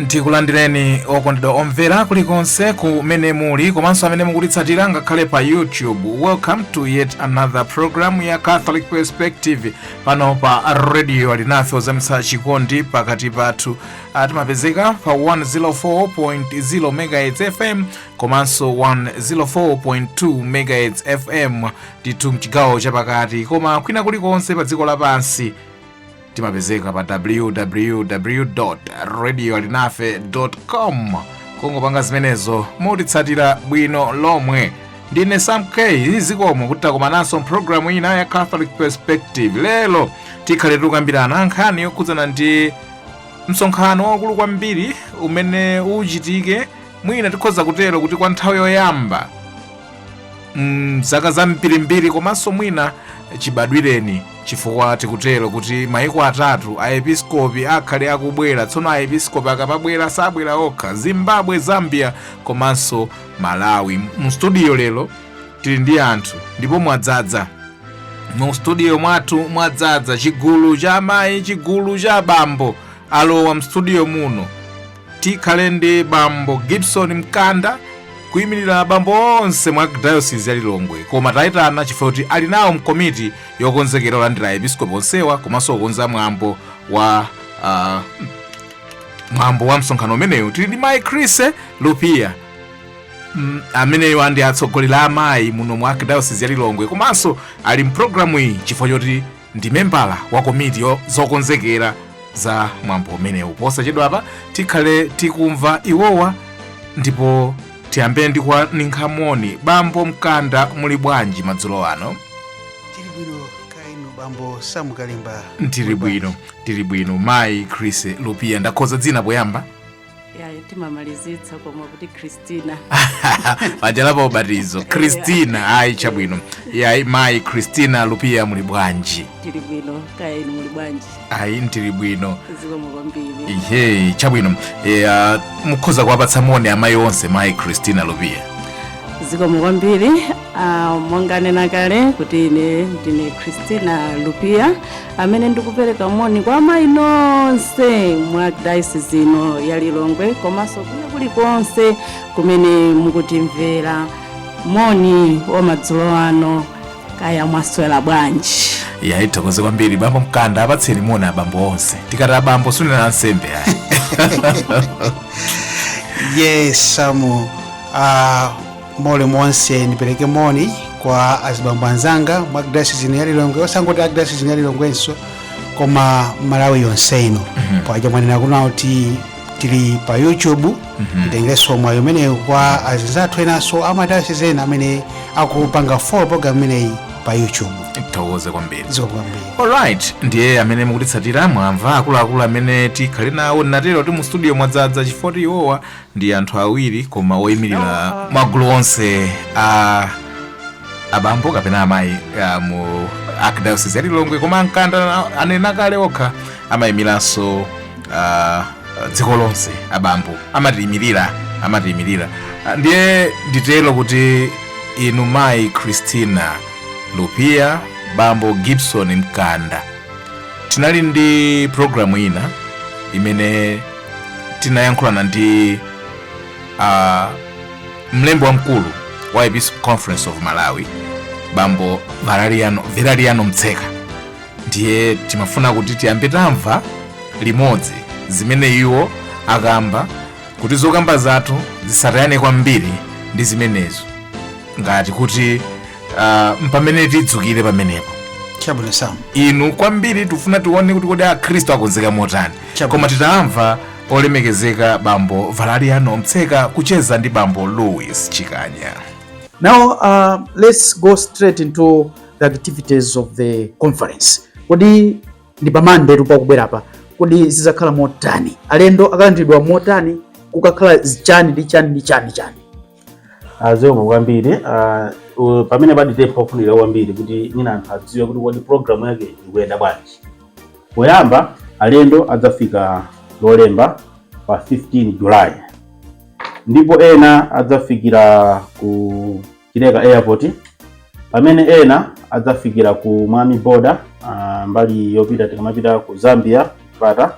ndikulandireni okondedwa omvera kulikonse kumene muli komanso amene mukutitsatira ngakhale pa youtube welcome to yet another program ya catholic perspective pano pa radio alinafe ozamitsa chikondi pakati pathu Ah, timapezeka pa 104.0 megahertz fm komanso 104.2 megahertz fm ndithu mchigawo chapakati koma kwina kulikonse pa dziko lapansi timapezeka pa www radio alinafe com kungopanga zimenezo mutitsatira bwino lomwe ndine sam k zikomo kuti takomananso mpulogalamu ina ya catholic perspective lero tikhale tikukambirana nkhani yokhudzana ndi msonkhano waukulu kwambiri umene uchitike mwina tikhoza kutero kuti kwa nthawi yoyamba mzaka zambirimbiri komanso mwina chibadwireni chifukwa tikutero kuti maiko atatu aepiskopi akhale akubwera tsono aepiskopi akamabwera sabwera okha zimbabwe zambia komanso malawi mu studio lero tili ndi anthu ndipo mwadzadza mu studio mwathu mwadzadza chigulu cha amayi chigulu cha abambo alowa mstudio muno tikhale ndi bambo gibson mkanda kuyimirira abambo onse mu archdiocese ya lilongwe koma tayitana chifukwa choti ali nawo mkomiti yokonzekera kulandira aepiskopi onsewa komanso kukonza mwambo wa ah, mwambo wa msonkhano umenewu tili ndi mayi chrissie lupia Mm, amenewa ndi atsogoleri amayi muno mu archdiocese ya lilongwe komanso ali mpulogalamu iyi chifukwa choti ndi membala wa komiti yo- zokonzekera za mwambo umenewu posachedwapa tikhale tikumva iwowa ndipo tiyambe ndi kuwaninkha moni bambo mkanda muli bwanji madzulo ano tili bwino kaya inu bambo sam kalimba tili bwino tili bwino mayi chrissie lupia ndakhoza dzina poyamba yayi timamalizitsa koma kuti christina pajala pa ubatizo christina ayi chabwino yayi mayi christina lupia muli bwanji tili bwino kaya inu muli bwanji ayi ndili bwino zikomo kwambiri ihe chabwino eya mukhoza kuwapatsa moni amayi onse mayi christina lupia zikomo kwambiri ah, monga mwanena kale kuti ine ndine christina lupia amene ndikupereka moni kwa amayi nonse mu archdayosizi ino ya lilongwe komanso kune kulikonse kumene mukutimvera moni wa madzulo ano kaya mwaswera bwanji yayi tithokoze kwambiri bambo mkanda apatseni moni abambo onse tikati abambo sitikunena ansembe ayi yes samu uh, moni nonse ndipereke moni kwa azibambo anzanga mwa dayosizi ya lilongwe osangoti a dayosizi ya lilongwenso koma malawi yonse ino paja mwanena kunja kuti tili pa youtube nditengenso mwayi umenewo kwa azinzathu enanso amadayosizi ena amene akupanga follow program imeneyi pa youtube tithokoze kwambiri zikomo kwambiri alright ndiye amene mukutitsatira mwamva akuluakulu amene tikhale nawo nditero kuti mu studio mwadzadza chifukwa iwowa ndi anthu awiri koma oyimirira magulu onse a abambo kapena amayi ah, mu archdiocese ya lilongwe koma a mkanda na- anena kale okha amayimiranso ah, dziko lonse abambo amatiyimirira amatiyimirira Ah, ndiye nditero kuti inu mayi christina lupia bambo gibson mkanda tinali ndi programu ina imene tinayankhulana ndi uh, mlembi wamkulu wa episcopal conference of malawi bambo valeriano, valeriano mtseka ndiye timafuna kuti tiyambe tamva limodzi zimene iwo akamba kuti zokamba zathu zisatayane kwambiri ndi zimenezo ngati kuti uh, mpamene tidzukire pamenepo chabwino sam inu kwambiri tifuna tione kuti kodi akhristu akonzeka motani cha koma titamva olemekezeka bambo valeriano mtseka kucheza ndi bambo louis chikanya now uh, let's go straight into the activities of the conference kodi ndi pa monday tu pakubwerapa kodi zizakhala motani alendo akalandiridwa motani kukakhala chani ndi chani ndi chani chani ah, zikomo kwambiri ah, u- pamenepa ndi pofunika kwambiri kuti mwina anthu adziwe kuti kodi programu yake ikuyenda bwanji poyamba alendo adzafika lolemba pa 15 july ndipo ena adzafikira ku chileka airport pamene ena adzafikira ku mwami border ah, mbali yopita tikamapita ku zambia chipata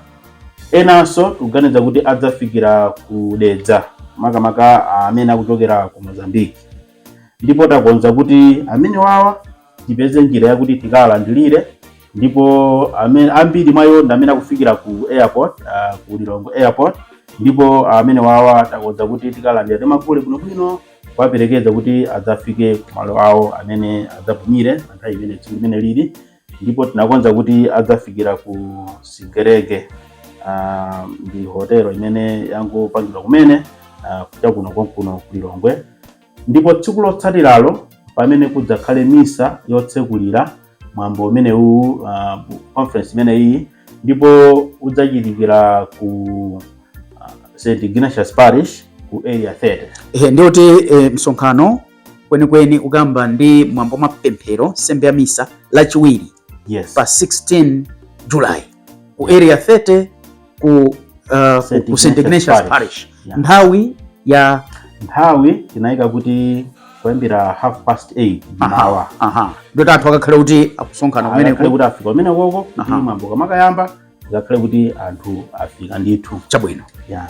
Enanso tikuganiza kuti adzafikira ku Dedza makamaka amene akuchokera ku Mozambique ndipo takonza kuti amenewawa tipeze njira yakuti tikawalandirire ndipo amene ambiri mwa iwo ndi amene akufikira ku airport uh, ku Lilongwe airport ndipo amenewawa takonza kuti tikalandira timagule bwinobwino kuwaperekeza kuti adzafike ku malo awo amene adzapumire pa nthawi imene tsiku limene lili ndipo tinakonza kuti adzafikira ku sigerege ah, ndi hotelo imene yangopangidwa kumene ah, kunja kuno konkuno ku lilongwe ndipo tsiku lotsatiralo pamene kudzakhale misa yotsekulira mwambo umenewu ah, conference imeneyi ndipo udzachitikira ku ah, st ignatius parish ku area 30 Ehe, ndiye kuti eh, msonkhano kwenikweni ukayamba ndi mwambo wa mapemphero nsembe ya misa lachiwiri yes. pa 16 july ku area 30 ku, uh, ku st ignatius parish yeah. nthawi ya nthawi tinayika kuti kuyambira half past 8 m'mawa ndiye kuti anthu akakhala kuti akusonkhana kumeneko kuti afika kumenekoko kuti mwambo kumakayamba akakhale kuti anthu afika ndithu chabwino yeah.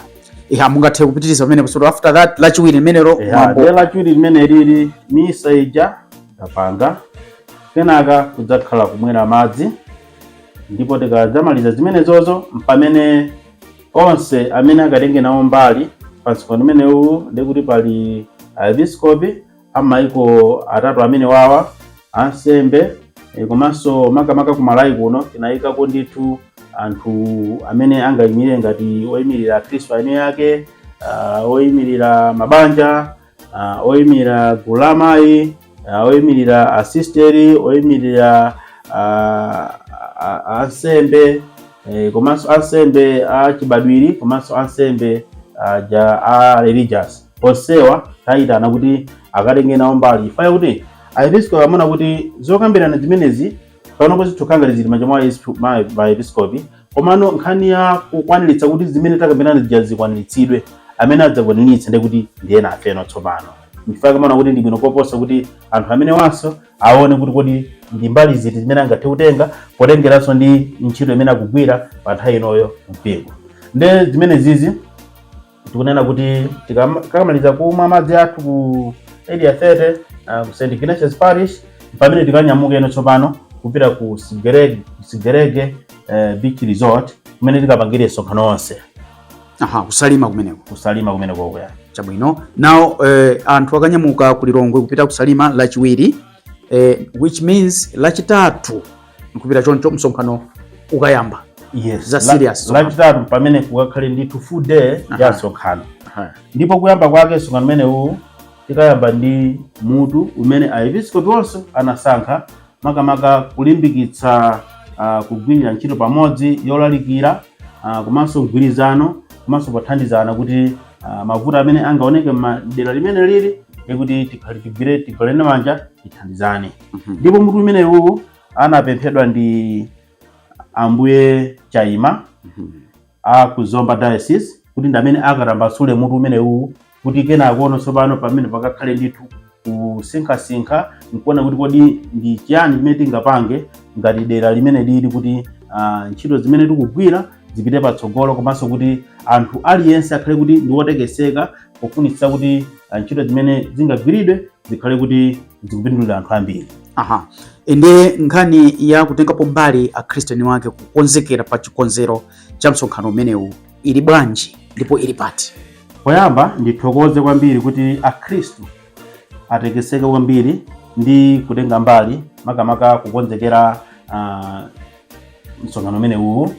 yeah, mungathe kupitiriza pamene so after that lachiwiri limenelo yeah, nde lachiwiri limeneli misa ija tapanga kenaka kudzakhala kumwera madzi ndipo tikadzamaliza zimenezozo m'pamene onse amene akatenge nawo mbali pa msonkhano umenewu ndiye kuti pali aepiskopi a m'maiko atatu amenewawa ansembe eh, komanso makamaka ku malawi kuno tinayikako ndithu anthu amene angayimire ngati oyimirira akhristu eni ake ah, oyimirira mabanja ah, oyimirira gulu la amayi ah, oyimirira asisteri oyimirira ah, ah, ah, ansembe eh, komanso ansembe a chibadwiri komanso ansembe aja a religious onsewa tayitana kuti akatenge nawo mbali chifukwa chakuti aepiskopi amaona kuti zokambirana zimenezi panopo zikukhala ngati zili m'manja mwa aesp- ma- ma aepiskopi komano nkhani ya kukwaniritsa kuti zimene takambirana zija zikwaniritsidwe amene adzakwaniritsa ndi kuti ndiye nafeno tsopano nchifukwa akumaona kuti ndi bwino koposa kuti anthu amenewanso aone kuti kodi ndi mbali ziti zimene angathe kutenga potengeranso ndi ntchito imene akugwira pa nthawi inoyo mumpingo nde zimenezizi tikunena kuti tikamaliza kumwa madzi athu ku area 30 uh, ku St Ignatius Parish m'pamene tikanyamukeno tsopano kupita ku Sigerege Sigerege uh, Beach Resort kumene tikapangire msonkhano onse. Aha, ku Salima kumeneko. Ku Salima kumeneko kwa. Chabwino. Now eh, anthu akanyamuka ku Lilongwe kupita ku Salima lachiwiri eh, which means lachitatu nkupita choncho msonkhano ukayamba yes. za serious lachitatu pamene kukakhale ndithu full day ya msonkhano ndipo kuyamba kwake msonkhano umenewu tikayamba ndi mutu umene aepiskopi onse anasankha makamaka kulimbikitsa uh, kugwirira ntchito pamodzi yolalikira uh, komanso mgwirizano komanso pothandizana kuti uh, mavuto amene angaoneke m'dera limeneli kuti tikhale tigwire tigwirane manja tithandizane Mhm. ndipo mutu umenewu anapemphedwa ndi ambuye Chaima Mhm. a ku Zomba diocese kuti ndi amene akatambasule mutu umenewu kuti kenakono tsopano pamene pakakhale ndithu kusinkhasinkha nkuona kuti kodi ndi chiyani chimene tingapange ngati dera limene lili kuti ah, ntchito zimene tikugwira zipite patsogolo komanso kuti anthu aliyense akhale kuti ndi wotekeseka pofunitsitsa kuti ah, ntchito zimene zingagwiridwe zikhale kuti zikupindulira anthu ambiri aha ende nkhani ya kutengapo mbali akhristiyani wake kukonzekera pa chikonzero cha msonkhano umenewu ili bwanji ndipo ili pati poyamba ndithokoze kwambiri kuti akhristu atekeseka kwambiri ndi kutenga mbali makamaka kukonzekera uh, msonkhano umenewu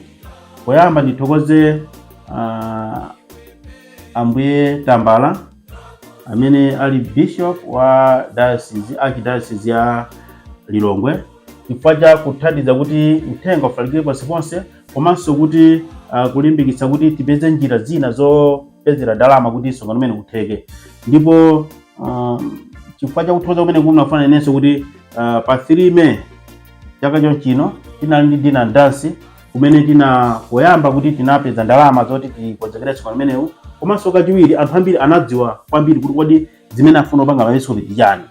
poyamba ndithokoze uh, ambuye Tambala amene ali bishop wa diocese archdiocese ya Lilongwe chifukwa cha kuthandiza kuti uthenga ufalikire ponseponse komanso kuti uh, kulimbikitsa kuti tipeze njira zina zopezera ndalama kuti msonkhano umene utheke ndipo uh, chifukwa cha kuthokoza kumene ndafuna ndinenenso kuti uh, pa 3 May chaka chonchino tinali ndi dinner and dance kumene tina poyamba kuti tinapeza ndalama zoti tikonzekere msonkhano umenewu komanso kachiwiri anthu ambiri anadziwa kwambiri kuti kodi zimene afuna kupanga maepiskopi ndi chani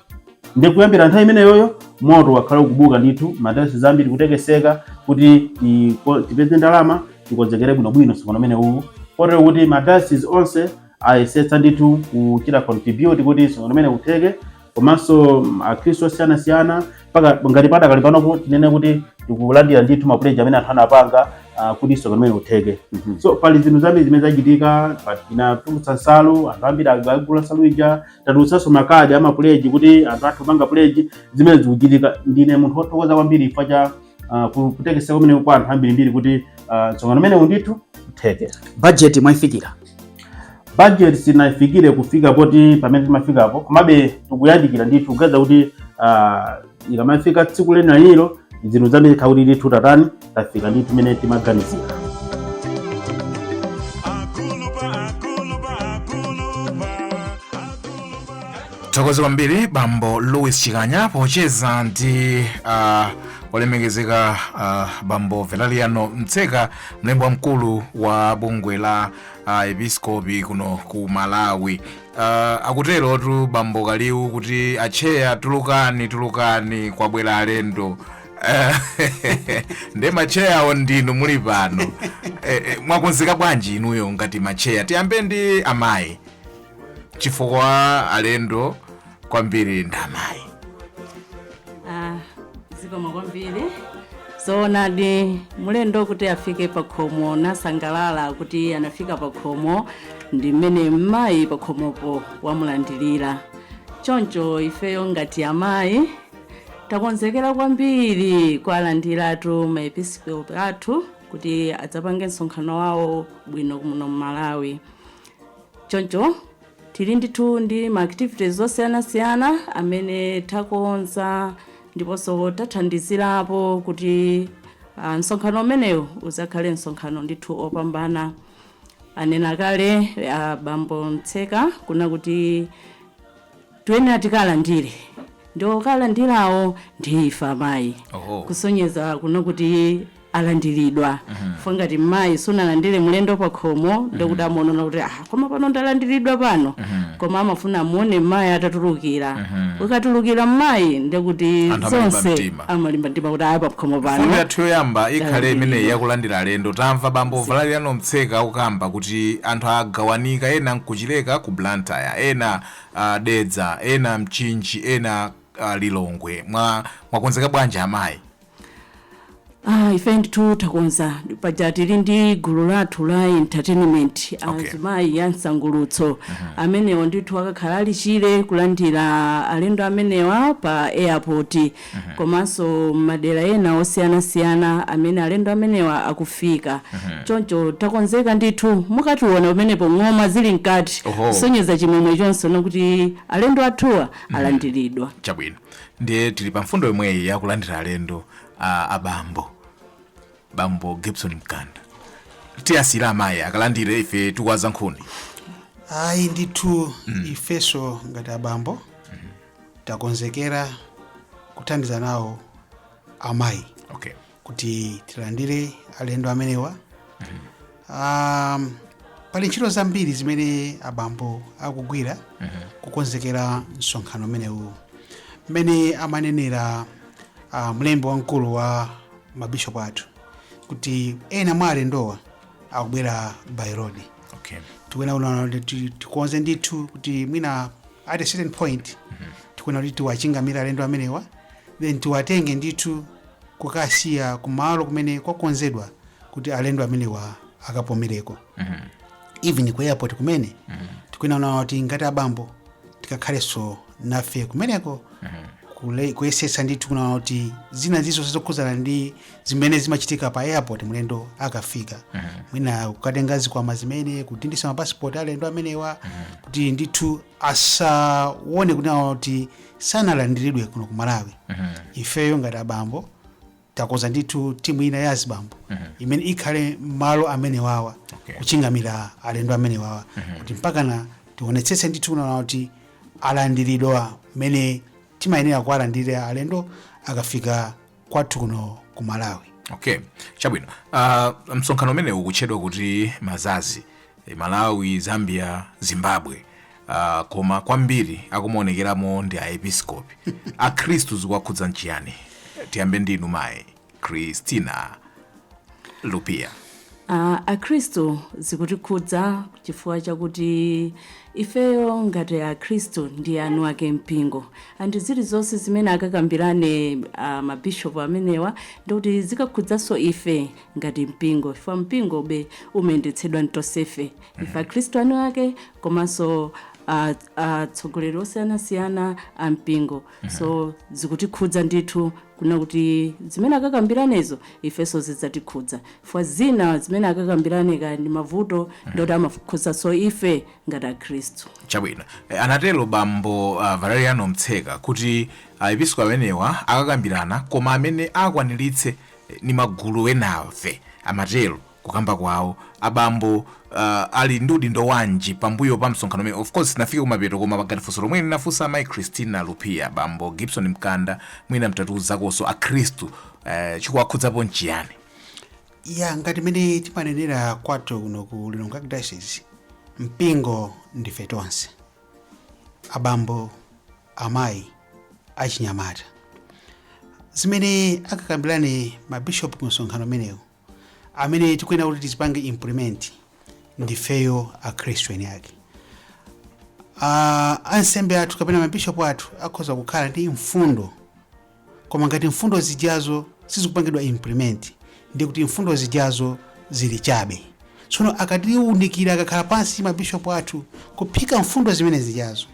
ndi kuyambira nthawi imeneyoyo moto wakhala ukubuka ndithu madayosizi ambiri kutekeseka kuti tiko- tipeze ndalama tikonzekere bwinobwino msonkhano umenewu kotero kuti madayosizi onse ayesetsa ndithu kuchita contribute kuti msonkhano umene utheke komanso mm, akhristu osiyanasiyana mpaka ngati padakali panopo tinene kuti tikulandira ndithu mapuleji amene anthu anapanga ah, kuti msonkhano umene utheke Mhm. so pali zinthu zambiri zimene zachitika pa- tinatulutsa nsalu anthu ambiri ag- agula nsalu ija tatulutsanso makadi amapuleji kuti anthu athe kupanga puleji zimene zikuchitika ndine munthu wothokoza kwambiri chifukwa cha uh, ku- kutekeseka kumene kwa anthu ambirimbiri kuti uh, msonkhano umenewu ndithu utheke budget mwayifikira budget sitinayifikire kufika poti pamene timafikapo komabe tikuyandikira ndithu kuganiza kuti ah, ikamafika tsiku lenilenilo zinthu zambiri zikhala kuti ndithu tatani tafika ndithu mene timaganizira Thokoza kwambiri bambo Louis Chikanya pocheza ndi uh, olemekezeka uh, bambo Valeriano Mtseka mlembi wamkulu wa bungwe la maepiskopi kuno ku Malawi. Uh, akuterotu bambo Kaliwu kuti atcheya tulukani tulukani kwabwera alendo Eh, nde matcheyawo ndinu muli pano Eh, eh, mwakonzeka bwanji inuyo ngati matcheya tiyambe ndi amayi chifukwa alendo kwambiri ndamayi Ah, zikomo kwambiri zoonadi mulendo kuti afike pakhomo nasangalala kuti anafika pakhomo ndi mmene mmayi pakhomopo wamulandirira choncho ifeyo ngati amayi takonzekera kwambiri kuwalandiratu maepiskopi athu kuti adzapange msonkhano wawo bwino muno mmalawi Choncho tili ndithu ndi ma activities osiyanasiyana amene takonza ndiponso tathandizirapo kuti ah, msonkhano umenewu udzakhale msonkhano ndithu opambana. Anena kale ah, bambo Mtseka kunena kuti Tuyenera tikalandire ndi okalandirawo ndi ife amayi Oho. kusonyeza kunena kuti alandiridwa chifukwa ngati mmayi sunalandire mlendo pa khomo nde kuti amaona kuti ah, koma pano ndalandiridwa pano koma amafuna amuone mmayi atatulukira ukatulukira mmayi nde kuti Anthu amalimba zonse mtima. amalimba mtima kuti aya pa khomo Mfundo pano yathu yoyamba ikhale Talandira. imeneyi yakulandira alendo tamva bambo valeriano mtseka akukamba kuti anthu agawanika ena nkuchileka ku blantyre ena dedza ena mchinji ena lilongwe mwa mwakonzeka bwanji amayi Ah, ife ndithu takonza paja tili ndi gulu lathu la entertainment Okay. azimayi a msangulutso amenewo ndithu akakhala ali chire kulandira alendo amenewa pa airport komanso m'madera ena osiyanasiyana amene alendo amenewa akufika. Choncho takonzeka ndithu. Mukationa pamenepo ng'oma zili mkati Oho. kusonyeza chimwemwe chonse kunena kuti alendo athuwa alandiridwa. chabwino ndiye tili pa mfundo yomweyi yakulandira alendo a abambo bambo gibson mkanda tiwasiyira amayi akalandire ife tikuwaza nkhuni ayi ndithu ifeso ngati abambo takonzekera kuthandiza nawo amayi okay kuti tilandire alendo amenewa um, pali ntchito zambiri zimene abambo akugwira kukonzekera msonkhano umenewu mmene amanenera uh, mlembi wamkulu wa mabishopu athu kuti ena mwa alendowa akubwera by road okay tikuyenera kunena kuti ti- tikonze ndithu kuti mwina at a certain point tikuyenera kuti tiwachingamire alendo amenewa then tiwatenge ndithu kukawasiya kumalo kumene kwakonzedwa kuti alendo amenewa akapumireko even ku airport kumene tikuyenera kunena kuti ngati abambo tikakhalenso nafe kumeneko kule- kuyesetsa ndithu kunena kuti zina zilizonse zokhudzana ndi zimene zimachitika pa airport mlendo akafika mwina kukatenga zikwama zimene kudindisa mapasipoti alendo amenewa kuti ndithu asaone kunena kuti sanalandiridwe kuno ku malawi ifeyo ngati abambo takonza ndithu timu ina ya azibambo imene ikhale mmalo amenewawa Okay. kuchingamira alendo amenewawa kuti mpakana tionetsetse ndithu kunena kuti alandiridwa mmene timayenera kuwalandirira alendo akafika kwathu kuno ku malawi okay chabwino uh, msonkhano umenewu ukutchedwa kuti mazazi Malawi, Zambia, Zimbabwe uh, koma kwambiri akumaonekeramo ndi aepiskopi akhristu zikuwakhudza nchiyani tiyambe ndi inu mayi christina lupia Uh, akhristu zikutikhudza chifukwa chakuti ifeyo ngati akhristu ndiye eni ake mpingo and zilizonse zimene akakambirane uh, mabishopu amenewa ndikuti zikakhudzanso ife ngati mpingo chifukwa mpingobe umayendetsedwa ndi tonsefe ife akhristu eni ake komanso a- atsogoleri osiyanasiyana a mpingo so zikutikhudza ndithu kunena kuti zimene akakambiranezo ifenso zidzatikhudza chifukwa zina zimene akakambirane kaya ndi mavuto ndi oti amakhudzanso ife ngati akhristu chabwino Eh, anatero bambo uh, valeriano mtseka kuti aepiskopi amenewa akakambirana koma amene akwaniritse ndi magulu enafe amatero kukamba kwawo abambo uh, ali ndi udindo wanji pambuyo pa msonkhano umenewu of course sitinafike kumapeto koma pakati funso lomwe ndinafunsa amayi christina lupia bambo gibson mkanda mwina mutatiuzakonso akhristu uh, chikuwakhudzapo nchiyani ya ngati mmene timanenera kwathu kuno ku lilongwe diocese mpingo ndife tonse abambo amayi, achinyamata. Zimene akakambirane ma bishop ku msonkhano umenewu, amene tikuyenera kuti tizipange implement ndifeyo akhristu eni ake. Ah, ansembe athu kapena ma bishop athu akhoza kukhala ndi mfundo koma ngati mfundo zijazo sizikupangidwa implement ndiye kuti mfundo zijazo zili chabe tsono akatiunikira akakhala pansi mabishopu athu kuphika mfundo zimene zijazo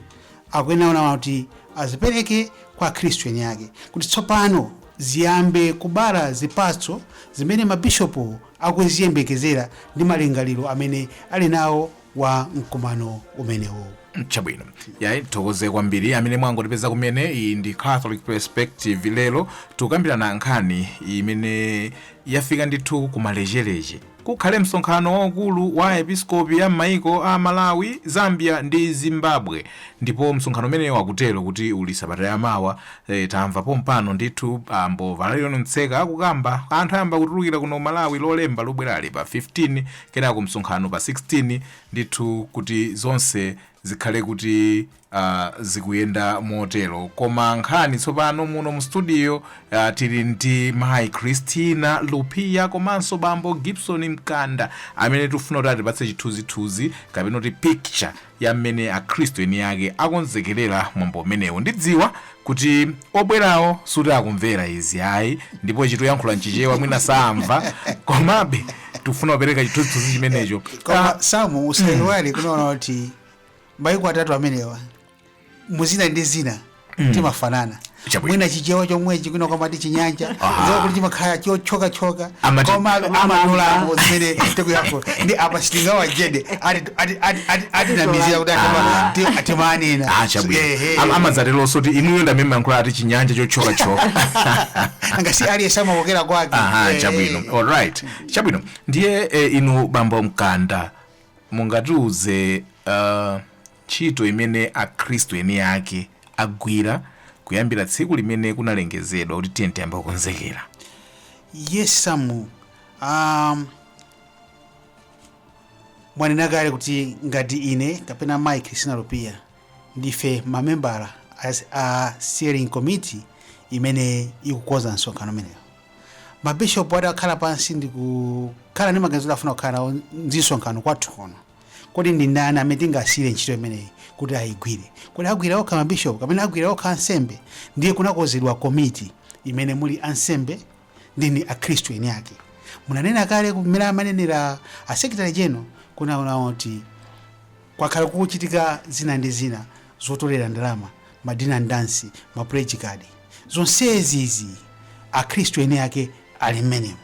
akuyenera kunena kuti azipereke kwa akhristu eni ake kuti tsopano ziyambe kubala zipatso zimene mabishopu akuziyembekezera ndi malingaliro amene ali nawo wa mkumano umenewo. chabwino yayi tithokoze kwambiri amene mwangotipeza kumene iyi ndi catholic perspective lero tikukambirana nkhani imene yafika ndithu kumalechereche kukhale msonkhano waukulu wa episkopi ya m'maiko a malawi zambia ndi zimbabwe ndipo msonkhano umenewu akutero kuti uli sabata yamawa e, tamva pompano ndithu abambo valeriano mtseka akukamba anthu ayamba kutulukira kuno malawi lolemba lobwerali pa 15 kenako msonkhano pa 16 ndithu kuti zonse zikhale kuti uh, zikuyenda motero koma nkhani tsopano muno mu studio uh, tili ndi mayi christina lupia komanso bambo gibson mkanda amene tikufuna kuti atipatse chithunzithunzi kapena kuti picture ya mmene Akhristu eniake akonzekerera mwambo umenewo. Ndidziwa kuti obwerawo suti akumvera izi ayi ndipo tikuyankhula m'Chichewa mwina saamva, komabe tikufuna kupereka chithunzithunzi chimenecho. koma Ah, samu usaiwale kunaona kuti maiko atatu amenewa muzina ndi zina timafanana Chabwino. mwina chichewa chomwechi kwinako amati chinyanja Aha. zoona kuti chimakhala chotchokatchoka Amati- koma amanulamo zimene tikuyapo ndi apa sitinga wajede ati- ati- ati- ati- atinamizira kuti atama- ti- atimanena Ah, chabwino Ehe. Am- amadzateronso kuti inuyo ndamene mumayankhula ati chinyanja chotchokatchoka anga si aliyense amakokera kwake aha Eh, chabwino alright chabwino ndiye eh, inu bambo mkanda mungatiuze uh, Ntchito imene Akhristu eniake agwira kuyambira tsiku limene kunalengezedwa kuti tiyeni tiyambe kukonzekera. Yes Sam, um, mwanena kale kuti ngati ine kapena Mai Christina Lupia ndife mamembala a steering committee imene ikukonza msonkhano umenewo mabishopu atakhala pansi ndikukhala ndi maganizo kuti afuna kukhala nawo ndi msonkhano kwathu kuno kodi ndi ndani amene tingasiyire ntchito imeneyi kuti ayigwire kodi agwira okha mabishopu kapena agwira okha ansembe ndiye kunakonzedwa komiti imene muli ansembe ndi akhristu eni ake munanena kale kumene amanenera a secretary general kunaona kuti kwakhala kukuchitika zina ndi zina zotolera ndalama ma dinner and dance ma pledge card zonsezi izi akhristu eni ake ali mmenemo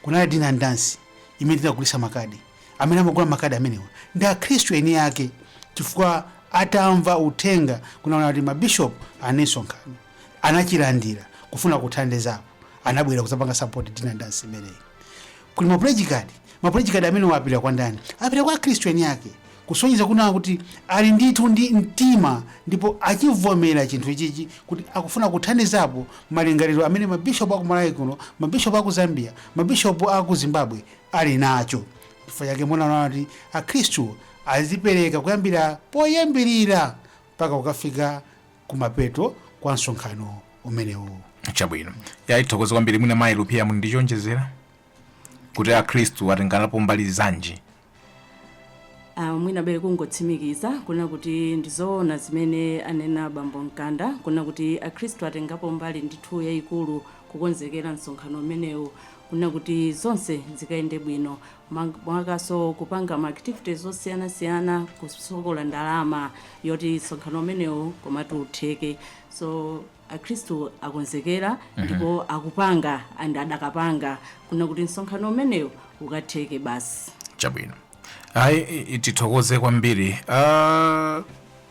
kunali dinner and dance imene tinagulisa makadi Amene amagula makadi amenewa ndi Akhristu eni ake chifukwa atamva uthenga kunaona kuti mabishopu ali ndi msonkhano anachilandira kufuna kuthandizapo anabwera kuzapanga support dinner dance imeneyi kuli ma pledge card ma pledge card amenewa apita kwa ndani apita kwa Akhristu eni ake kusonyeza kunaona kuti ali ndithu ndi mtima ndipo achivomera chinthu ichichi kuti akufuna kuthandizapo malingaliro amene mabishopu aku Malawi kuno mabishopu aku Zambia mabishopu aku Zimbabwe ali nacho. Chifukwa chake munaona kuti Akhristu azipereka kuyambira poyambirira mpaka kukafika kumapeto kwa msonkhano umenewu. chabwino ayi tithokoze kwambiri mwina mayi rupiya muli ndi choonjezera kuti akhristu atenganapo mbali zanji Ah, mwina bere kungotsimikiza kunena kuti ndizoona zimene anena bambo mkanda kunena kuti akhristu atengapo mbali ndithu yayikulu kukonzekera msonkhano umenewu Kunena kuti zonse zikayende bwino monga mwakaso kupanga ma activities osiyana siyana kusokolotsa ndalama yoti msonkhano umenewu komatu utheke so akhristu akonzekera ndipo akupanga and adakapanga kunena kuti msonkhano umenewu ukatheke basi. chabwino ayi i- i- tithokoze kwambiri Ah,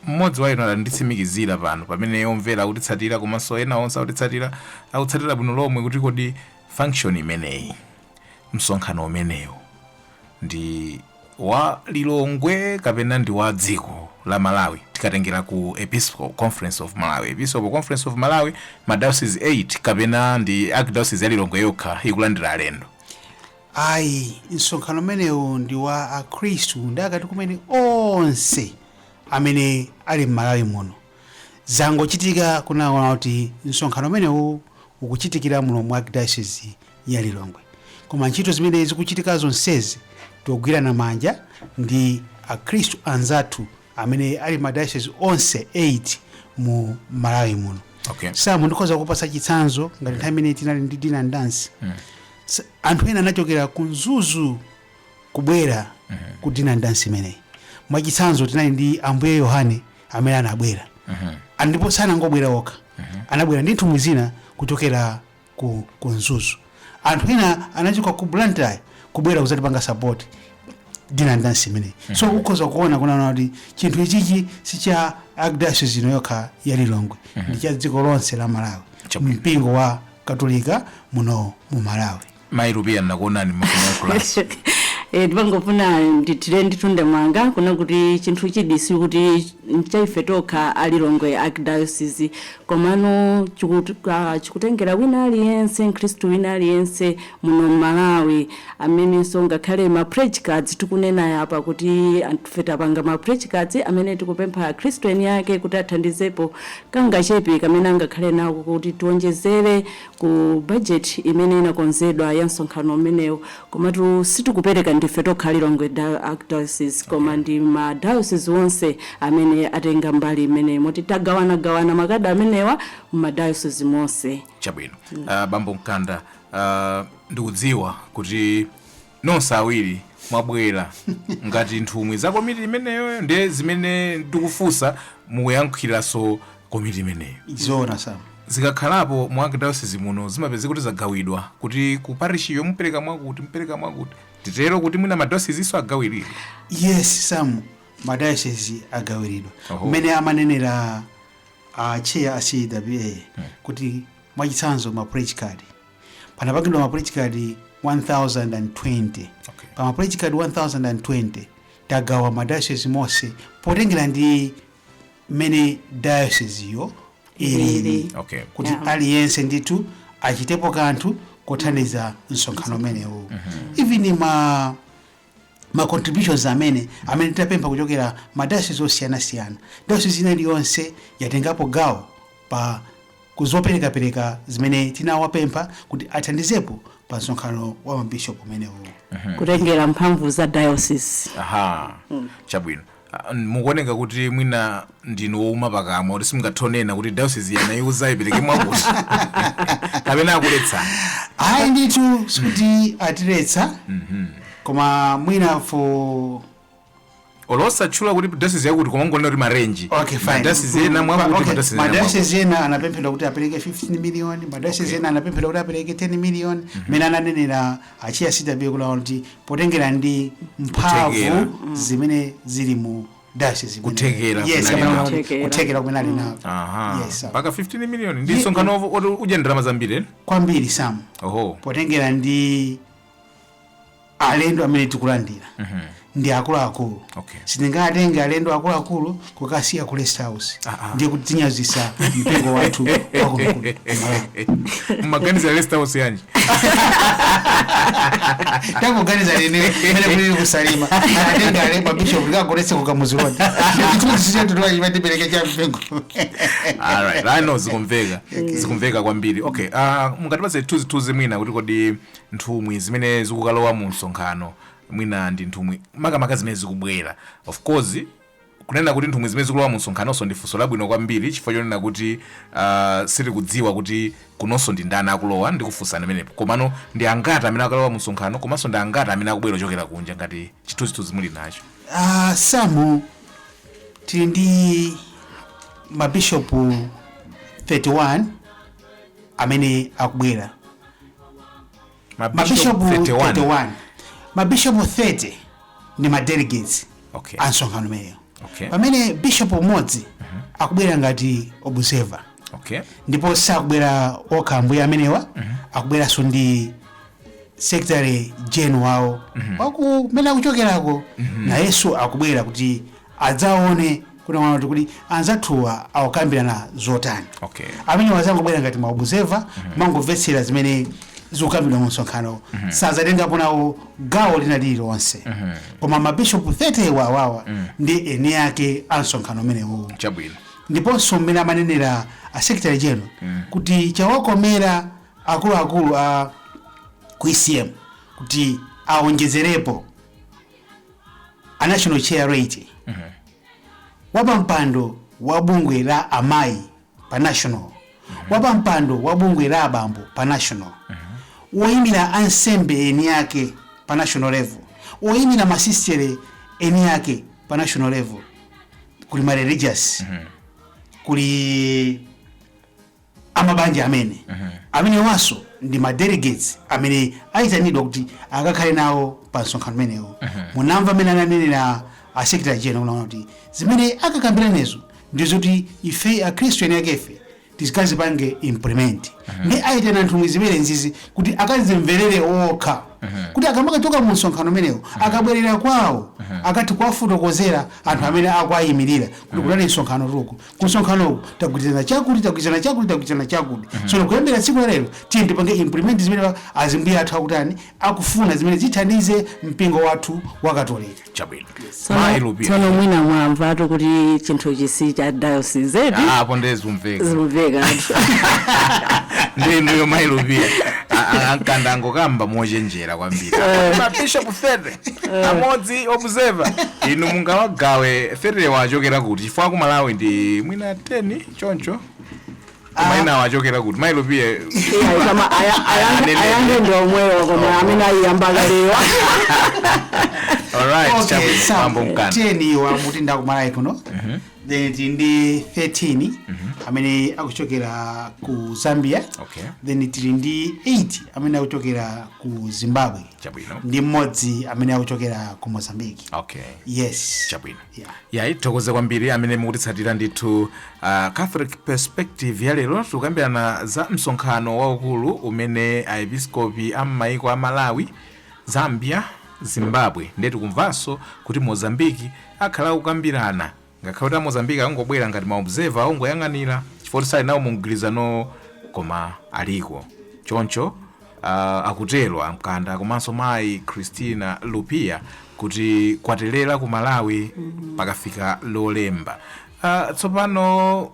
mmodzi wa inu anditsimikizire pano pamene omvera akutitsatira komanso ena onse akutitsatira akutsatira bwino lomwe kuti kodi function imeneyi msonkhano umenewu ndi wa lilongwe kapena ndi wa dziko la malawi tikatengera ku episcopal conference of malawi episcopal conference of malawi ma diocese 8 kapena ndi archdiocese ya lilongwe yokha ikulandira alendo ayi msonkhano umenewu ndi wa akhristu ndi akatikumene onse amene ali m'malawi muno zangochitika kunena kuti msonkhano umenewu ukuchitikira muno mu archdiocese ya lilongwe koma ntchito zimene zikuchitika zonsezi togwirana manja ndi akhristu anzathu amene ali mma diocese onse 8 mu malawi muno Okay. samu ndikhoza kupatsa chitsanzo ngati nthawi imene tinali ndi dinner dance S- anthu ena anachokera ku mzuzu kubwera ku dinner dance imeneyi mwachitsanzo tinali ndi ambuye yohane amene anabwera Ah, ndipo sanangobwera okha anabwera ndi nthumwi zina kuchokera ku, ku mzuzu anthu ena anachoka ku blantyre kubwera kuzatipanga support dinner dance imeneyi so ukhoza kuona kunena kuti chinthu ichichi si cha archdiocese ino yokha ya lilongwe ndi cha dziko lonse la malawi Chabwino. mpingo wa katolika muno mu malawi mayi rupiya nnakuonani mmafunanso Eh, ndimangofuna ndithire ndemanga kunena kuti chinthuchidi sikuti ndi chaife tokha a lilongwe archdiocese komano chikut- ah, chikutengera wina aliyense mkhristu wina aliyense muno mmalawi amenenso ngakhale ma pledge cards tikunenaya apa kuti anthufe tapanga ma pledge cards amene tikupempha akhristu eni ake kuti athandizepo kangachepe kamene angakhale nako kuti tionjezere ku budget imene inakonzedwa ya msonkhano umenewu komatu sitikupereka ndife tokha Lilongwe Archdiocese koma okay. ndi ma diocese onse amene atenga mbali imeneyi moti tagawanagawana makadi amenewa mma diocese monse chabwino mm. uh, bambo mkanda uh, ndikudziwa kuti nonse awiri mwabwera ngati nthumwi za komiti imeneyo nde zimene ndikufunsa mukuyankhiranso komiti imeneyo zoona sam zikakhalapo mu archdiocese muno zimapezeka kuti zagawidwa kuti ku parishiyo mupereka mwakuti mupereka mwakuti titero kuti mwina madiocesenso agawiridwa yes sam madayosezi agawiridwa Oho. mmene amanenera a chair a cwa kuti mwachitsanzo ma pledge card panapangidwa ma pledge card 1020 Okay. pa ma pledge card 1020 tagawa madayosezi monse potengera ndi mmene dayoseziyo ilili Ilili. Okay. kuti Yeah. aliyense ndithu achitepo kanthu kothandiza msonkhano umenewu even ma ma contributions amene amene tapempha kuchokera ma diocese osiyanasiyana diocese ina iliyonse yatengapo gawo pa kuzoperekapereka zimene tinawapempha kuti athandizepo pa msonkhano wa mabishopu umenewu kutengera mphamvu za diocese aha chabwino Ah, mukuoneka kuti mwina ndinu wouma pakamwa kuti simungathe kunena kuti dayosizi ina aiuza ipereke mwakuti kapena akuletsa ayi ndithu sikuti atiletsa koma mwina for olo osatchula kuti dayosizi yakuti koma kungonena kuti marenji okay fine dayosizi ena mwakuti Okay, madayosizi ena mwakuti. madayosizi ena anapemphedwa kuti apereke 15 million madayosizi ena anapemphedwa kuti apereke 10 million mmene ananenera a chair a cwa kuti potengera ndi mphamvu Kuthekera. zimene zili mu dayosizi imene- Kuthekera Yes, kunali kapena nako. kuti Kuthekera. kuthekera kumene ali nako aha Yes, sir. mpaka 15 million ndi Ye- msonkhano wo- woti udye ndalama zambiri eh? kwambiri samu oho potengera ndi alendo amene tikulandira ndi akuluakulu Okay. sindingatenge alendo akuluakulu kukasiya ku rest house Ah, ah. ndiye kutinyazisa mpingo wathu wakunokuno mumaganiza rest house yanji tangoganiza nene mene kulili ku Salima atenga ale mabishop likagolese kukamuzi lodi chitutisichatutoachimatipeleke cha mpingo alright i know zikumveka zikumveka kwambiri okay uh, mungatipatse chithunzithunzi mwina kuti kodi nthumwi zimene zikukalowa mu msonkhano mwina ndi nthumwi makamaka zimene zikubwera. Of course, kunena kuti nthumwi zimene zikulowa mumsonkhanonso ndi funso labwino kwambiri chifukwa chonena kuti ah, sitikudziwa kuti kunonso ndi ndani akulowa ndikufunsani pamenepo. Komano ndi angati amene akalowa mumsonkhano komanso ndi angati amene akubwera ochokera kunja ngati chithunzithunzi muli nacho. Ah, samu tili ndi mabishopu 31 amene akubwera mabishopu 31 mabishopu 30 ndi madelegates Okay. a msonkhano umeneyo Okay. pamene bishopu umodzi akubwera ngati observer okay ndipo sakubwera okha ambuye amenewa akubweranso ndi secretary general wawo wa kumene akuchokerako nayenso akubwera kuti adzaone kuti kodi anzathuwa akukambirana zotani Okay. amenewa azangobwera ngati ma observer kumangomvetsera zimene zikukambidwa mu msonkhano sazatengapo nawo gawo lina lililonse koma mabishopu 30 awawa ndi eni ake a msonkhano umenewu chabwino ndiponso mmene amanenera a secretary general kuti chawakomera akuluakulu a ku ecm kuti awonjezerepo a national chair laity wapampando wa bungwe la amayi pa national wapampando wa bungwe la abambo pa national woyimira ansembe eni ake pa national level woyimira masistere eni ake pa national level kuli ma religious kuli a mabanja ameneo amenewanso ndi ma delegates amene ayitanidwa kuti akakhale nawo pa msonkhano umenewo munamva mmene ananenera a secretary general kuti zimene akakambiranezo ndi zoti ife akhristu eni akefe tizikazipange implement nde ayitana nthumwi zimenezizi kuti akazimverere okha kuti akamakachoka mu msonkhano umenewo akabwerera kwawo akati kuwafotokozera anthu amene akuwayimirira kuti kunali msonkhanotu ku kumsonkhanoko tagwirizana chakuti tagwirizana chakuti tagwirizana chakuti tsono kuyambira tsiku lalero tiye tipange implement zimene wa- azimbuye athu akutani akufuna zimene zithandize mpingo wathu wa katolika chabwino Tsono- mayi lupia tsono mwina mwamvatu kuti chinthuchi si cha diocese eti apo nde zikumveka zimveka anthu ndinuyo mayi lupia a Nkanda angokamba mochenjera kwambiri mabishop 30 amodzi observer inu mungawagawe 30 wa achokera kuti chifukwa aku malawi ndi mwina 10 choncho koma ena awachokera kuti mayi lupia Iya, kama aya- aya- Anene. ayange ndi omwewo koma amene ayiyamba kale wa alright Okay, chabwino Sam, bambo Nkanda 10 iwo akuti ndi akumalawi kuno then tili ndi 13 amene akuchokera ku zambia Okay. then tili ndi 8 amene akuchokera ku zimbabwe chabwino ndi mmodzi amene akuchokera ku mozambique okay yes chabwino yeah. yayi tithokoze kwambiri amene mukutitsatira ndithu uh, catholic perspective ya lero tikukambirana za msonkhano waukulu umene aepiskopi a m'maiko a malawi zambia zimbabwe ndiye tikumvanso kuti mozambiki akhala akukambirana ngakhale kuti amozambiki akungobwera ngati maobserva akungoyang'anira chifukwa sali nawo mu mgwirizanowo koma aliko choncho Akutero a Mkanda komanso mayi Christina Lupia kuti kwaterera ku Malawi pakafika lolemba. Ah, tsopano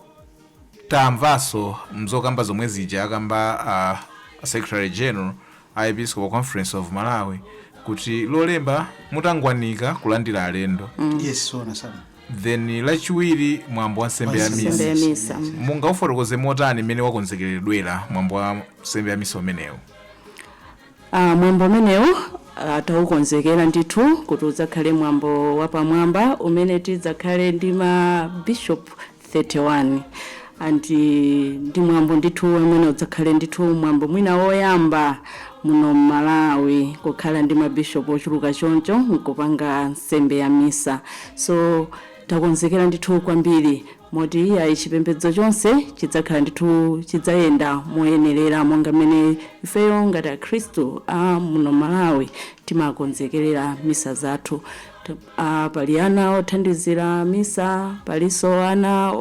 tamvanso m'zokamba zomwe zija akamba a secretary general a episcopal conference of malawi kuti lolemba mutangwanika kulandira alendo yes sono Then lachiwiri mwambo wa nsembe ya Nsembe ya misa misa. Mungaufotokoze motani mmene wakonzekeredwera mwambo wa nsembe ya misa umenewu Ah, mwambo umenewu ah, taukonzekera ndithu kuti udzakhale mwambo wapamwamba umene tidzakhale ndi mabishop 31 and ndi mwambo ndithu umene udzakhale ndithu mwambo mwina woyamba muno mmalawi kukhala ndi ma bishop ochuluka choncho nkupanga nsembe ya misa so takonzekera ndithu kwambiri moti ayi chipembedzo chonse chidzakhala ndithu chidzayenda moyenerera monga mmene ifeyo ngati akhristu a muno m'malawi timakonzekerera misa zathu Pali ana othandizira misa, palinso ana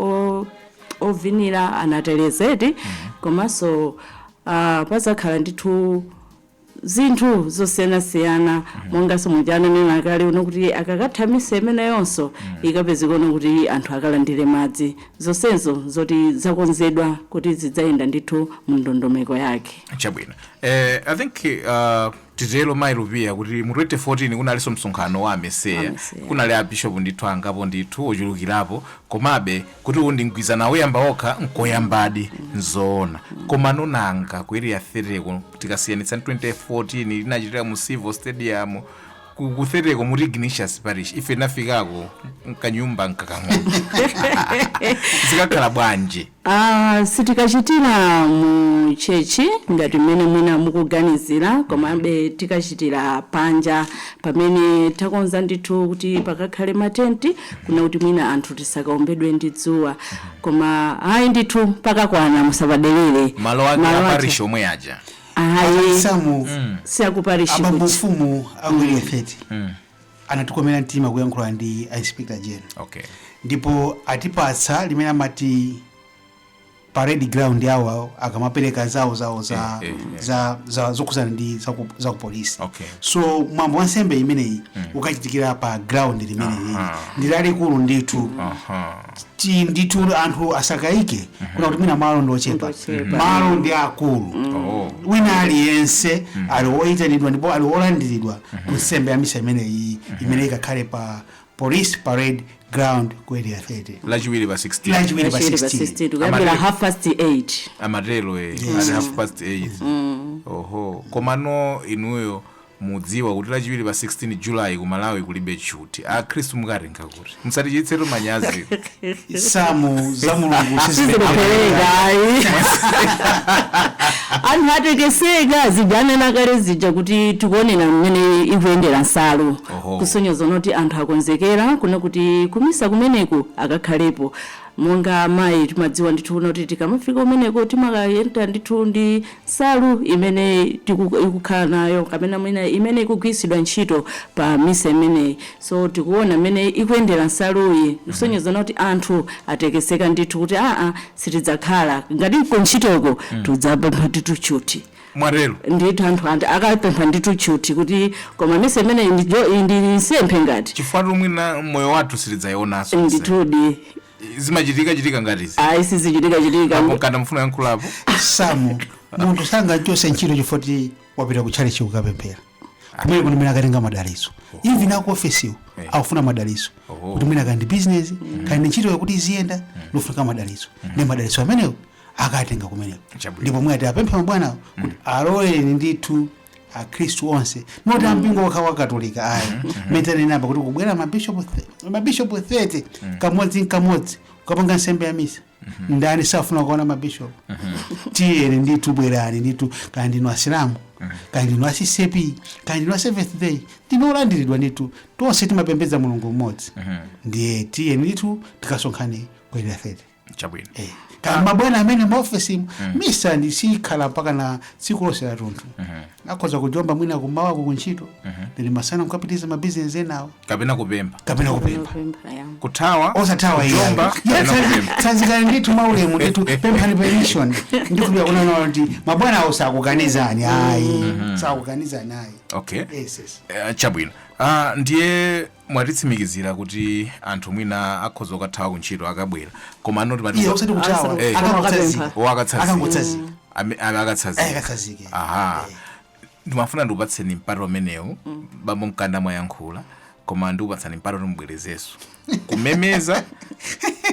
ovinira, anaterezeti komanso padzakhala ndithu zinthu zosiyanasiyana monganso muja ananena kale kunena kuti akakatha misa imeneyonso ikapezeka kunena kuti anthu akalandire madzi. Zonsezo n'zoti zakonzedwa kuti zidzayenda ndithu mu ndondomeko yake. Chabwino. I think uh, Titero Mayi Lupiya kuti mu 2014 kunalinso msonkhano wa AMECEA. Kunali a Bishop ndithu angapo ndithu ochulukirapo komabe kuti wa mgwirizano wa mayiko okhawa nkoyambadi. Nzoona. Komano nanga ku Area 30 ko tikasiyanitsa ndi 2014 inachitikira mu Civo Stadium ku ku 30 ko St. Ignatius Parish ife tinafikako n'kanyumba kakang'ono. Zikakhala bwanji? a Sitikachitira mu church ngati mmene mwina mukuganizira, komabe tikachitira panja pamene takonza ndithu kuti pakakhale ma tent kunena kuti mwina anthu tisakaombedwe ndi dzuwa. Koma ayi ndithu pakakwana musapaderere. malo ake Malo a ake- parish omwe aja Ayi si a ku parishi. Abambo mfumu a ku Area 30 anatikomera mtima kuyankhula ndi a inspector general okay ndipo atipatsa limene amati parade ground awo akamapereka zawo zawo za, Eh, eh, eh. za, za zokhudzana ndi za ku- za ku polisi Okay. so mwambo wa nsembe imeneyi ukachitikira pa ground limeneli Aha. ndi lalikulu ndithu Aha. ti- ndithu anthu asakayike kunena kuti mwina malo ndi ochepa Ndiochepa. malo ndi akulu Oh. wina aliyense ali woyitanidwa ndipo ali wolandiridwa ku nsembe ya misa imeneyi imene ikakhale pa police parade ground ku area 30 lachiwiri pa 16 lachiwiri pa Lachiwiri pa 16 16 kuyambira Amati- half past 8 amatero eh, Yes. ali half past 8 oho komano inuyo Mudziwa kuti lachiwiri pa 16 July ku Malawi kulibe tchuthi. Akhristu mukawatenga kuti? Musatichititsetu manyazi. Samu za Mulungu sizilephereka. Sizilephereka ayi. Anthu atekeseka zija ndanena kale zija kuti tikuonera mmene ikuyendera nsalu. Oho. Kusonyeza kunena kuti anthu akonzekera kunena kuti kumisa kumeneko akakhalepo. Monga amayi timadziwa ndithu kuti tikamafika kumeneko timakayenda ndithu ndi nsalu imene tiku ikukhala nayo kapena mwina imene ikugwiritsidwa ntchito pa misa imeneyi so tikuona mmene ikuyendera nsaluyi kusonyeza kuti anthu atekeseka ndithu kuti aa sitidzakhala ngati nkuntchitoko tudzapempha ndithu tchuthi mwatero ndithu anthu andi akapempha ndithu tchuthi kuti koma misa imeneyi ndi jo- ndi nsembe ngati chifukwa choti mwina moyo wathu sitidzaionanso ndithudi zimachitika chitika ngati izi ayi sizichitika chitika apo mkanda mufuna yankhulapo samu munthu sangachotsedwe ntchito chifukwa choti wapita ku tchalitchi kukapemphera kumene kuti mene akatenga madalitso even aku ofesiwo Eh. akufuna madalitso Oh. kuti mwina kaya ndi bizinesi kaya ndi ntchito yawo kuti iziyenda ikufunika madalitso ndiye madalitso amenewo akatenga kumeneko Chabwino. ndipo mwati apemphe mabwanawo kuti aloleni ndithu akhristu onse osati ampingo wokha wa katolika ayi mmene tanena apa kuti kubwera mabishopu the- mabishopu 30 kamodzi nkamodzi kukapanga nsembe ya misa ndani safuna kuona mabishopu tiyeni ndithu bwerani ndithu kaya ndinu asilamu kaya ndinu a CCAP kaya ndinu aseventh day ndinu olandiridwa ndithu tonse timapembedza mulungu mmodzi ndiye tiyeni ndithu tikasonkhane ku area 30 chabwino Eh, kaya mabwana a m'maofesimu misatu sikhala mpaka na tsiku lonse la tunthu akhoza kujomba mwina kumawa ku ntchito ndiye masana nkukapitiriza mabizinesi enawo kapena kupempha kapena kupempha Kupempha, ya. kuthawa osathawa kujomba kapena kupempha tsanzikani ndithu mwaulemu ndithu pemphani permission ndikukhulupirira kunena kuti mabwana awo sakukanizani ayi sakukanizani ayi okay yes yes Eh, chabwino Ah, ndiye mwatitsimikizira kuti anthu mwina akhoza kukathawa kuntchito akabwera koma ano timati- iyayi osati kuthawa Asanu- Eh. akangotsanzika Akapempha. akatsanzika akangotsanzika Ame- ame akatsanzika akatsanzike aha ndimafuna ndikupatseni mpata umenewu bambo mkanda mwayankhula koma ndikupatsani mpata kuti mubwerezenso kumemeza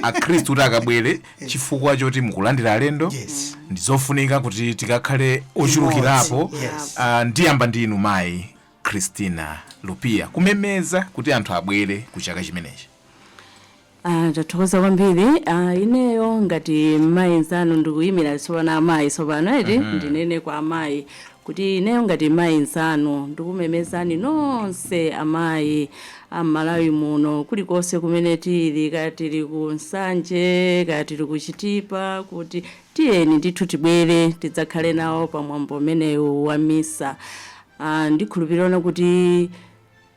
akhristu kuti akabwere chifukwa choti mukulandira alendo Yes. ndizofunika kuti tikakhale ochulukirapo Yes. Ah, ndiyamba ndi inu mayi Christina Lupia kumemeza kuti anthu abwere ku chaka chimenechi. Ah, tathokoza kwambiri ah, ineyo ngati mayi nzanu ndikuyimira tsopano amayi tsopano eti ndinene kwa amayi kuti ineyo ngati mayi nzanu ndikumemezani nonse amayi a m'Malawi muno kulikonse kumene tili kaya tili ku Nsanje kaya tili ku Chitipa kuti tiyeni ndithu tibwere tidzakhale nawo pa mwambo umenewu wa misa Ndikhulupirira kuti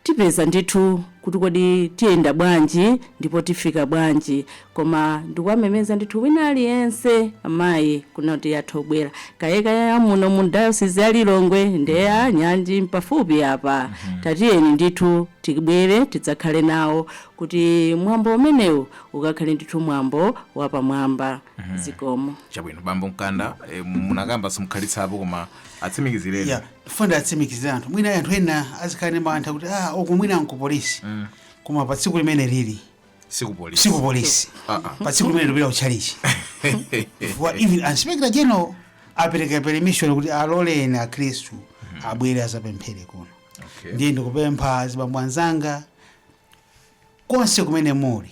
tipeza ndithu kuti kodi tiyenda bwanji ndipo tifika bwanji koma ndikuwamemeza ndithu wina aliyense amayi kunena kuti atha kubwera kaya kaya a muno mu diocese ya Lilongwe nde a nyanji m'pafupi apa tatiyeni ndithu tibwere tidzakhale nawo kuti mwambo umenewu ukakhale ndithu mwambo wapamwamba zikomo Chabwino bambo Mkanda eh, munakamba simunakhazikikepo koma atsimikizireni Yeah, ndifuna ndiwatsimikizire anthu mwina anthu ena azikhala ndi mantha kuti ah uku mwina nkupolisi koma pa tsiku limeneli sikupolisi siku polisi Ah, ah. pa tsiku limeneli ndi kutchalitchi chifukwa even inspector general apereka permission kuti aloleni akhristu abwere adzapemphere kuno Okay. ndiye ndikupempha azibambo anzanga konse kumene muli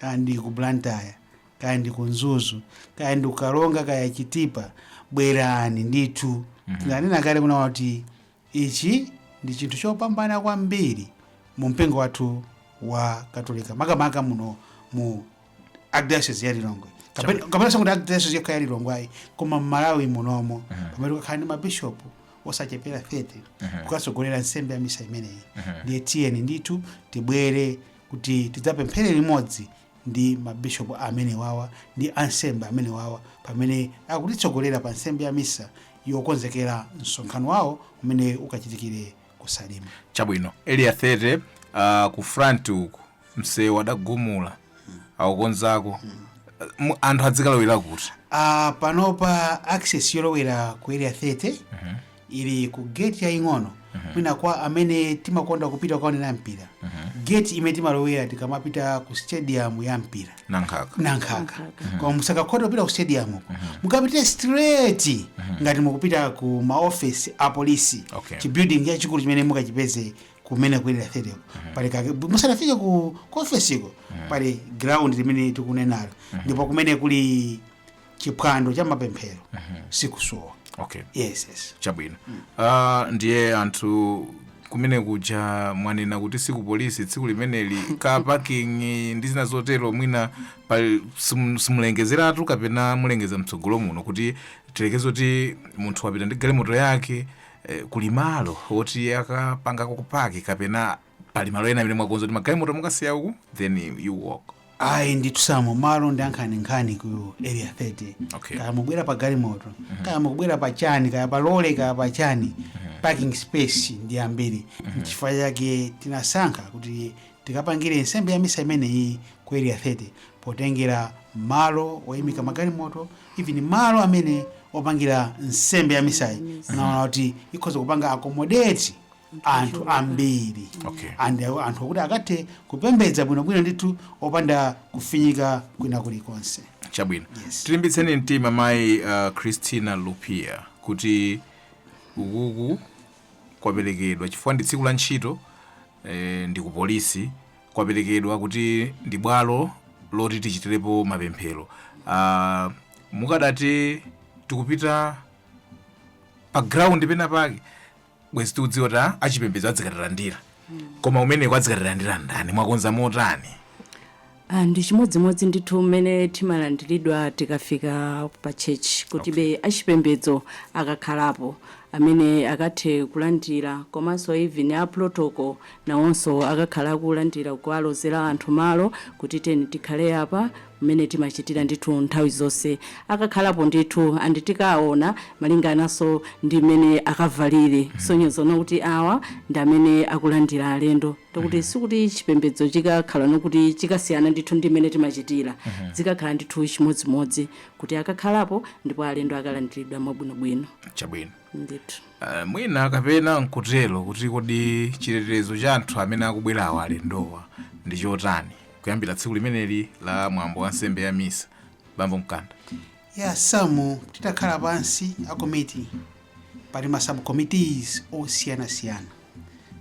kaya ndi ku Blantyre kaya ndi ku Mzuzu kaya ndi ku Karonga kaya Chitipa bwerani ndithu ndanena kale kunena kuti ichi ndi chinthu chopambana kwambiri mu mpingo wathu wa Katolika makamaka muno mu archdiocese ya Lilongwe kapena kapena sikuti archdiocese yokha ya Lilongwe ayi koma m'Malawi munomo pamene kukakhale ndi mabishopu osachepera 30 kukatsogolera nsembe ya misa imeneyi ndiye tiyeni ndithu tibwere kuti tidzapemphere limodzi ndi mabishopu amenewawa ndi ansembe amenewawa pamene akutitsogolera pa nsembe ya misa yokonzekera msonkhano wawo umene ukachitikire ku Salima chabwino Area 30 uh, ku front uku msewu adagumula akukonzako Mu- anthu adzikalowera kuti Ah, panopa access yolowera ku Area 30 ili ku gate yaying'ono mwina kwa amene timakonda kupita kukaonera mpira gate imene timalowera tikamapita ku stadium ya mpira Nankhaka Nankhaka koma musakakhota kupita ku stadium uko mukapite straight ngati mukupita ku maofesi a polisi Okay. chibuilding chachikulu chimene mukachipeze kumeneko ku Area 30 pali kake musanafike ku ku ofesiko pali ground limene tikunenalo ndipo kumeneko kuli chiphwando cha mapemphero sikusowa okay yes yes chabwino Ah, ndiye anthu kumene kuja mwanena kuti siku polisi tsiku limeneli ka parking ndi zina zotero mwina pa- simu- simulengezeratu kapena mulengeza mtsogolo muno kuti tilekeze kuti munthu wapita ndi galimoto yake eh, kuli malo oti akapangako kupaki kapena pali malo ena amene mwakonza kuti magalimoto mukasiya uku then you walk ayi ndithu asamu malo ndi ankhani nkhani ku area 30 Okay. kaya mukubwera pa galimoto kaya mukubwera pa chani kaya pa lole kaya pa chani parking space ndi ambiri nchifukwa chake tinasankha kuti tikapangire nsembe ya misa imeneyi ku area 30 potengera malo oyimika magalimoto even malo amene opangira nsembe ya misayi tinaona kuti ikhoza kupanga accommodate anthu ambiri Okay. and anthu kuti akathe kupembedza bwinobwino ndithu opanda kufinyika kwina kulikonse chabwino Yes. tilimbitseni mtima mayi uh, christina lupia kuti ukuku kwaperekedwa chifukwa ndi tsiku la ntchito eh, ndi ku polisi kwaperekedwa kuti ndi bwalo loti tichitirepo mapemphero uh, mukadati tikupita pa ground pena pake bwezi tikudziwa kuti a- achipembedzo adzikatilandira koma umeneko adzikatilandira ndani mwakonza motani Ah, ndi chimodzimodzi ndithu mmene timalandiridwa tikafika pa tchetchi kuti be achipembedzo akakhalapo amene akathe kulandira komanso even a protocol nawonso akakhala akulandira kuwalozera anthu malo kuti tiyeni tikhale apa mmene timachitira ndithu nthawi zonse akakhalapo ndithu and tikaona malingananso ndi mmene akavalire kusonyeza kuona kuti awa ndi amene akulandira alendo ndikuti sikuti chipembedzo chikakhala ngokuti chikasiyana ndithu ndi mmene timachitira zikakhala ndithu chimodzimodzi kuti akakhalapo ndipo alendo akalandiridwa mwabwinobwino chabwino ndithu uh, mwina kapena nkutero kuti kodi chitetezo cha anthu amene akubwerawa alendowa ndi chotani kuyambira tsiku limeneli la mwambo wa nsembe ya misa bambo mkanda ya asamu titakhala pansi a komiti pali ma subcommittees osiyanasiyana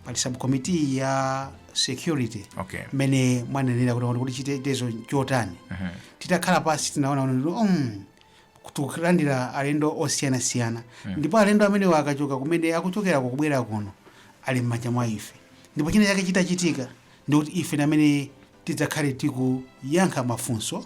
pali subcommittee ya security okay mmene mwanenera kuti kuti chitetezo chotani Mhm. titakhala pansi tinaona kuti um, tikulandira alendo osiyanasiyana ndipo alendo amenewa akachoka kumene akuchokera kubwera kuno ali m'manja mwa ife ndipo china chake chitachitika ndikuti ife amene tidzakhale tikuyankha mafunso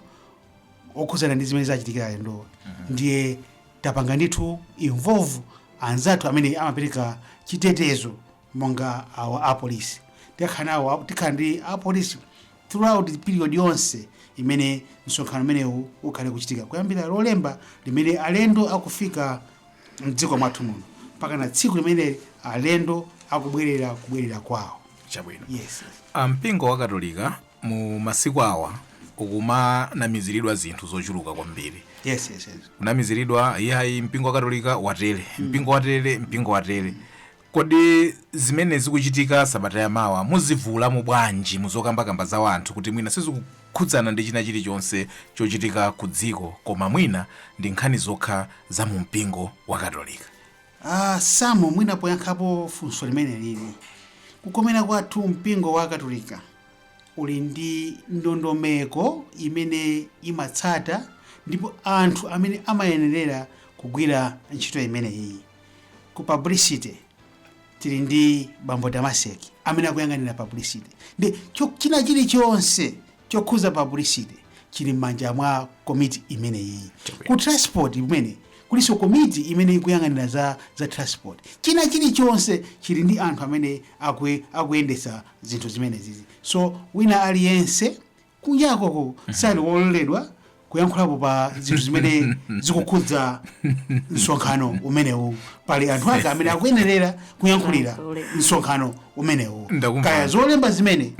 okhudzana ndi zimene zachitikira alendowa ndiye tapanga ndithu involve anzathu amene amapereka chitetezo monga awa apolisi tikhala nawo tikhala ndi apolisi throughout the period yonse imene msonkhano umenewu ukhale kuchitika kuyambira lolemba limene alendo akufika mdziko mwathu muno mpaka na tsiku limene alendo akubwerera kubwerera kwawo Chabwino. Yes, yes. Ah, mpingo wa katolika mu masiku awa ukumanamiziridwa zinthu zochuluka kwambiri Yes, yes, yes. kunamiziridwa iyayi mpingo wa katolika watere mpingo watere mpingo watere kodi zimene zikuchitika sabata ya mawa muzivulamo bwanji muzokambakamba za wanthu kuti mwina sizikukhudzana ndi china chilichonse chochitika ku dziko koma mwina ndi nkhani zokha za mu mpingo wa katolika A Sam, Mwina poyankhapo funso limenelili, kukomera kwathu mpingo wa Katolika uli ndi ndondomeko imene imatsata ndipo anthu amene amayenerera kugwira ntchito imeneyiyi. Ku publicity tili ndi Bambo Damaseki amene akuyang'anira publicity. Ndiye cho- china chilichonse chokhuza publicity chili m'manja mwa komiti imeneyiyi ku transport komweko kulinso komiti imene ikuyang'anira za, za transport china chilichonse chili ndi anthu amene akue, akuyendetsa zinthu zimenezizi so wina aliyense kunjako sali wololedwa kuyankhulapo pa zinthu zimene zikukhudza msonkhano umenewu pali anthu ake amene akuyenerera kuyankhulira msonkhano umenewu Ndakumva. kaya zolemba zimene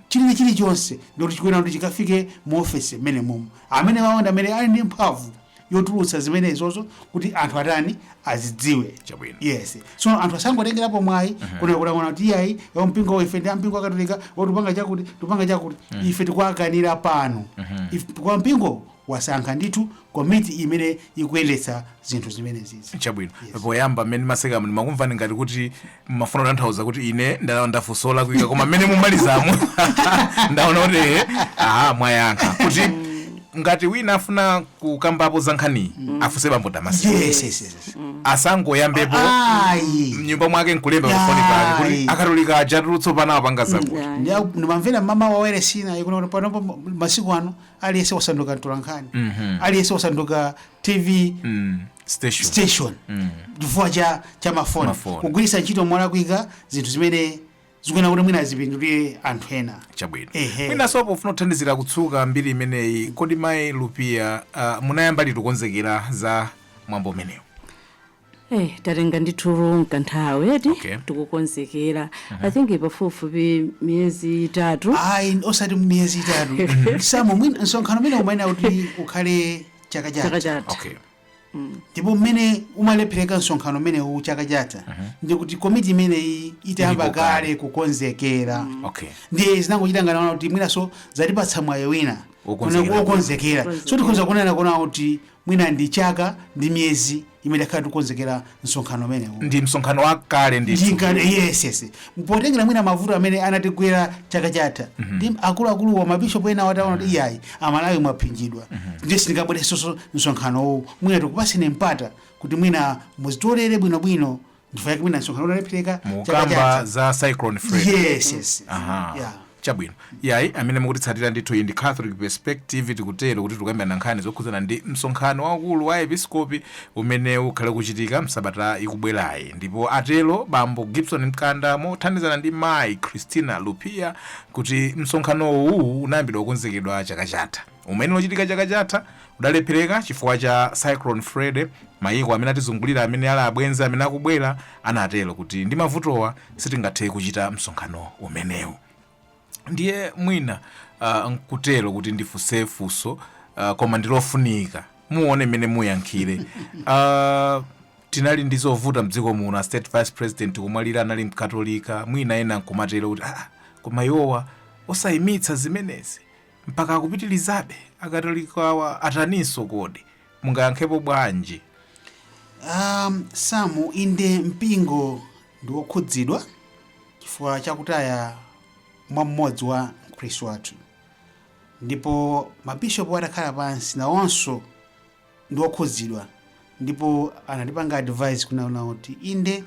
chili chilichonse ndikuti chikuyenera kuti chikafike mu ofesi mmenemumu amenewawo ndi amene ali ndi mphamvu yotulutsa zimenezozo kuti anthu atani azidziwe Chabwino. yes so anthu asangotengerapo mwayi kumakalankhula kuti iyayi yo mpingo wa ife ndi ampingo wa katolika tikupanga chakuti tikupanga chakuti ife tikuwakanira pano If- kwa mpingo wasankha ndithu komiti imene ikuyendetsa zinthu zimenezizi chabwino Yes. poyamba mmene mumasekamu ndimakumvani ngati kuti mmafuna kutanthauza kuti ine ndafunsa olakwika koma mmene mumamalizamo ndaona kuti ehe, aha mwayankha kuti ngati wina afuna kukambapo za nkhaniyi afunse bambo Damaseki yes yes yes yes. asangoyambepo ayi mnyumba mwake nkulemba pafoni pake kuti Ayi. akatolika ajatu apa apanga zakuti Yeah. Ndiya- ndimamvera mama wawere Sinai kuti panopo masiku ano aliyense wasanduka mtolankhani aliyense wasanduka tv station Mm. chifukwa cha cha mafoni Mafoni. kugwiritsa ntchito molakwika zinthu zimene zikuyenera kuti mwina zipindulire anthu ena chabwino Ehe. mwinaso pofuna kuthandizira kutsuka mbiri imeneyi kodi mayi lupiya uh, munayamba liti kukonzekera za mwambo umenewu Eh, tatenga ndithu nkanthawi eti Okay. tikukonzekera i think pafupifupi miyezi itatu ayi osati miyezi itatu samu mwina msonkhano umene umayenera kuti ukhale chaka chatha okay ndipo mmene umalephereka msonkhano umenewu chaka chatha ndi kuti komiti imeneyi itayamba Ilipo kale. kale kukonzekera okay ndiye zinangochita ngati kuti mwinaso zatipatsa mwayi wina Wokonzekera. Kuna- wokonzekera. So tikhoza kunena kunaona kuti mwina ndi chaka ndi miyezi imene takhala tikukonzekera msonkhano umenewu ndi msonkhano wakale ndithu ndingane yes yes potengera mwina mavuto amene anatigwera chaka chatha ndi akuluakulu wa mabishopu enawa ataona kuti iyayi amalawi mwaphinjidwa ndiye sitingabweresoso msonkhanowu mwina tikupaseni mpata kuti mwina muzitolere bwinobwino ndifo yake mwina msonkhano unalephereka chaka mukamba chatha za cyclone Freddy yes yes Aha. yeah chabwino iyayi amene mukutitsatira ndithu iyi ndi catholic perspective tikutero kuti tikukambirana nkhani zokhudzana ndi msonkhano waukulu wa aepiskopi umene ukhale kuchitika msabata ikubwerayi ndipo atero bambo gibson mkanda mothandizana ndi mayi christina lupia kuti msonkhano uwu unayambidwa kukonzekedwa chaka chatha umene ukanachitika chaka chatha udalephereka chifukwa cha Cyclone Freddy, mayiko amene atizungulira amene ali abwenzi amene akubwera anatero kuti ndi mavutowa sitingathe kuchita msonkhano umenewu. Ndiye mwina uh, nkutero kuti ndifunse funso uh, koma ndilofunika muone mmene muyankhire uh, tinali ndi zovuta mdziko muno a state vice president kumwalira anali mkatolika mwina ena nkumatero kuti ah, koma iwowa osayimitsa zimenezi Mpaka akupitilizabe akatolikawa ataninso kodi? Mungayankhepo bwanji? Um, Sam, inde mpingo ndi wokhudzidwa chifukwa chakutaya mwa mmodzi wa mkhristu wathu ndipo mabishopu atakhala pansi nawonso ndi okhudzidwa ndipo anatipanga advise kunaona kuti inde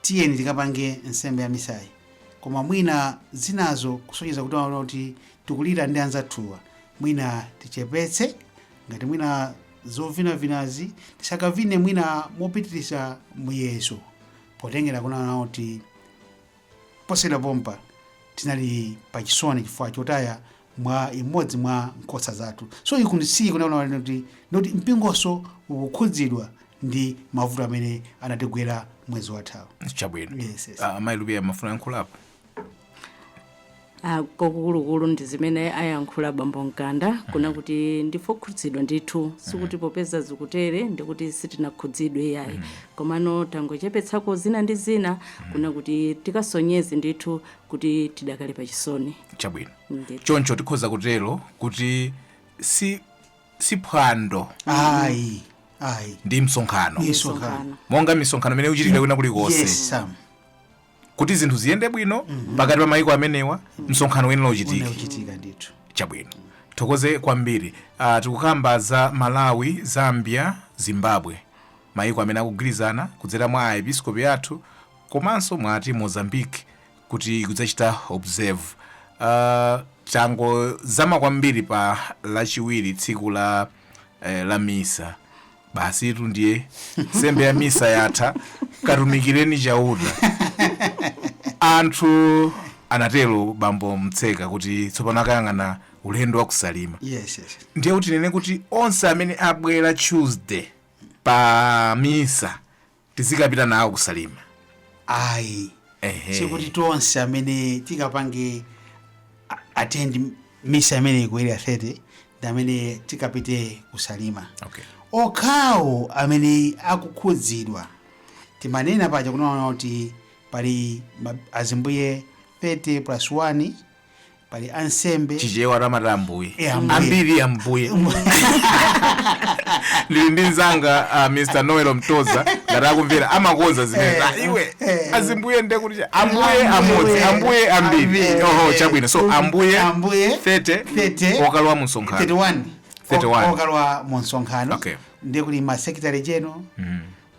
tiyeni tikapange nsembe ya misayi koma mwina zinazo kusonyeza kunaona kuti tikulira ndi anzathuwa mwina tichepetse ngati mwina zovinavinazi tisakavine mwina mopitiriza muyezo potengera kunaona kuti Posachedwa pompa, tinali pa chisoni chifukwa chotaya mwa imodzi mwa nkhosa zathu. So iku ndi si kunaona kuti mpingonso ukukhudzidwa ndi mavuto amene anatigwera mwezi wathawu. Chabwino. Yes, yes. Ah, Mayi Lupiya mumafuna muyankhulepo. a Kwakukulukulu ndi zimene ayankhula bambo Mkanda kunena kuti ndife okhudzidwa ndithu sikuti popeza zikutere ndikuti sitinakhudzidwe iyayi komano tangochepetsako zina ndi zina kunena kuti tikasonyeze ndithu kuti tidakali pa chisoni chabwino Ndithu. choncho tikhoza kutero kuti si si phwando ayi ayi ndi msonkhano misonkhano monga misonkhano imene ikuchitika kwina kulikonse yes Sam kuti zinthu ziyende bwino pakati pa maiko amenewa msonkhano uyenera uchitike uchitika ndithu chabwino tithokoze kwambiri uh, tikukamba za malawi zambia zimbabwe maiko amene akugwirizana kudzera mwa aepiskopi athu komanso mwati mozambique kuti ikudzachita observe uh, tangozama kwambiri pa lachiwiri tsiku la, eh, la misa basitu ndiye nsembe ya misa yatha katumikireni chauta anthu anatero bambo mtseka kuti tsopano akayang'ana ulendo wa kusalima yes yes ndiye kuti tinene kuti onse amene abwera tuesday pa misa tizikapita nawo ku salima ayi Ehe. sikuti tonse amene tikapange a- attend misa imeneyi ku area 30 ndi amene tikapite kusalima okay. okhawo amene akukhudzidwa timanena paja kunena kuti pali ma- azimbuye 30 plus 1 pali ansembe chichewa timati ambuye Eh, ambuye. ambiri ambuye ndili ndi mzanga uh, mr noel mtoza ngati akumvera amakonza zimene Eh, Ah, iwe eh. azimbuye nde kuti cha- ambuye amodzi ambuye ambiri Ambiri. oho chabwino so ambuye Ambuye 30 30. okalowa mu msonkhano 31 31. O- okalowa mu msonkhano Okay. ndiye kuli ma secretary general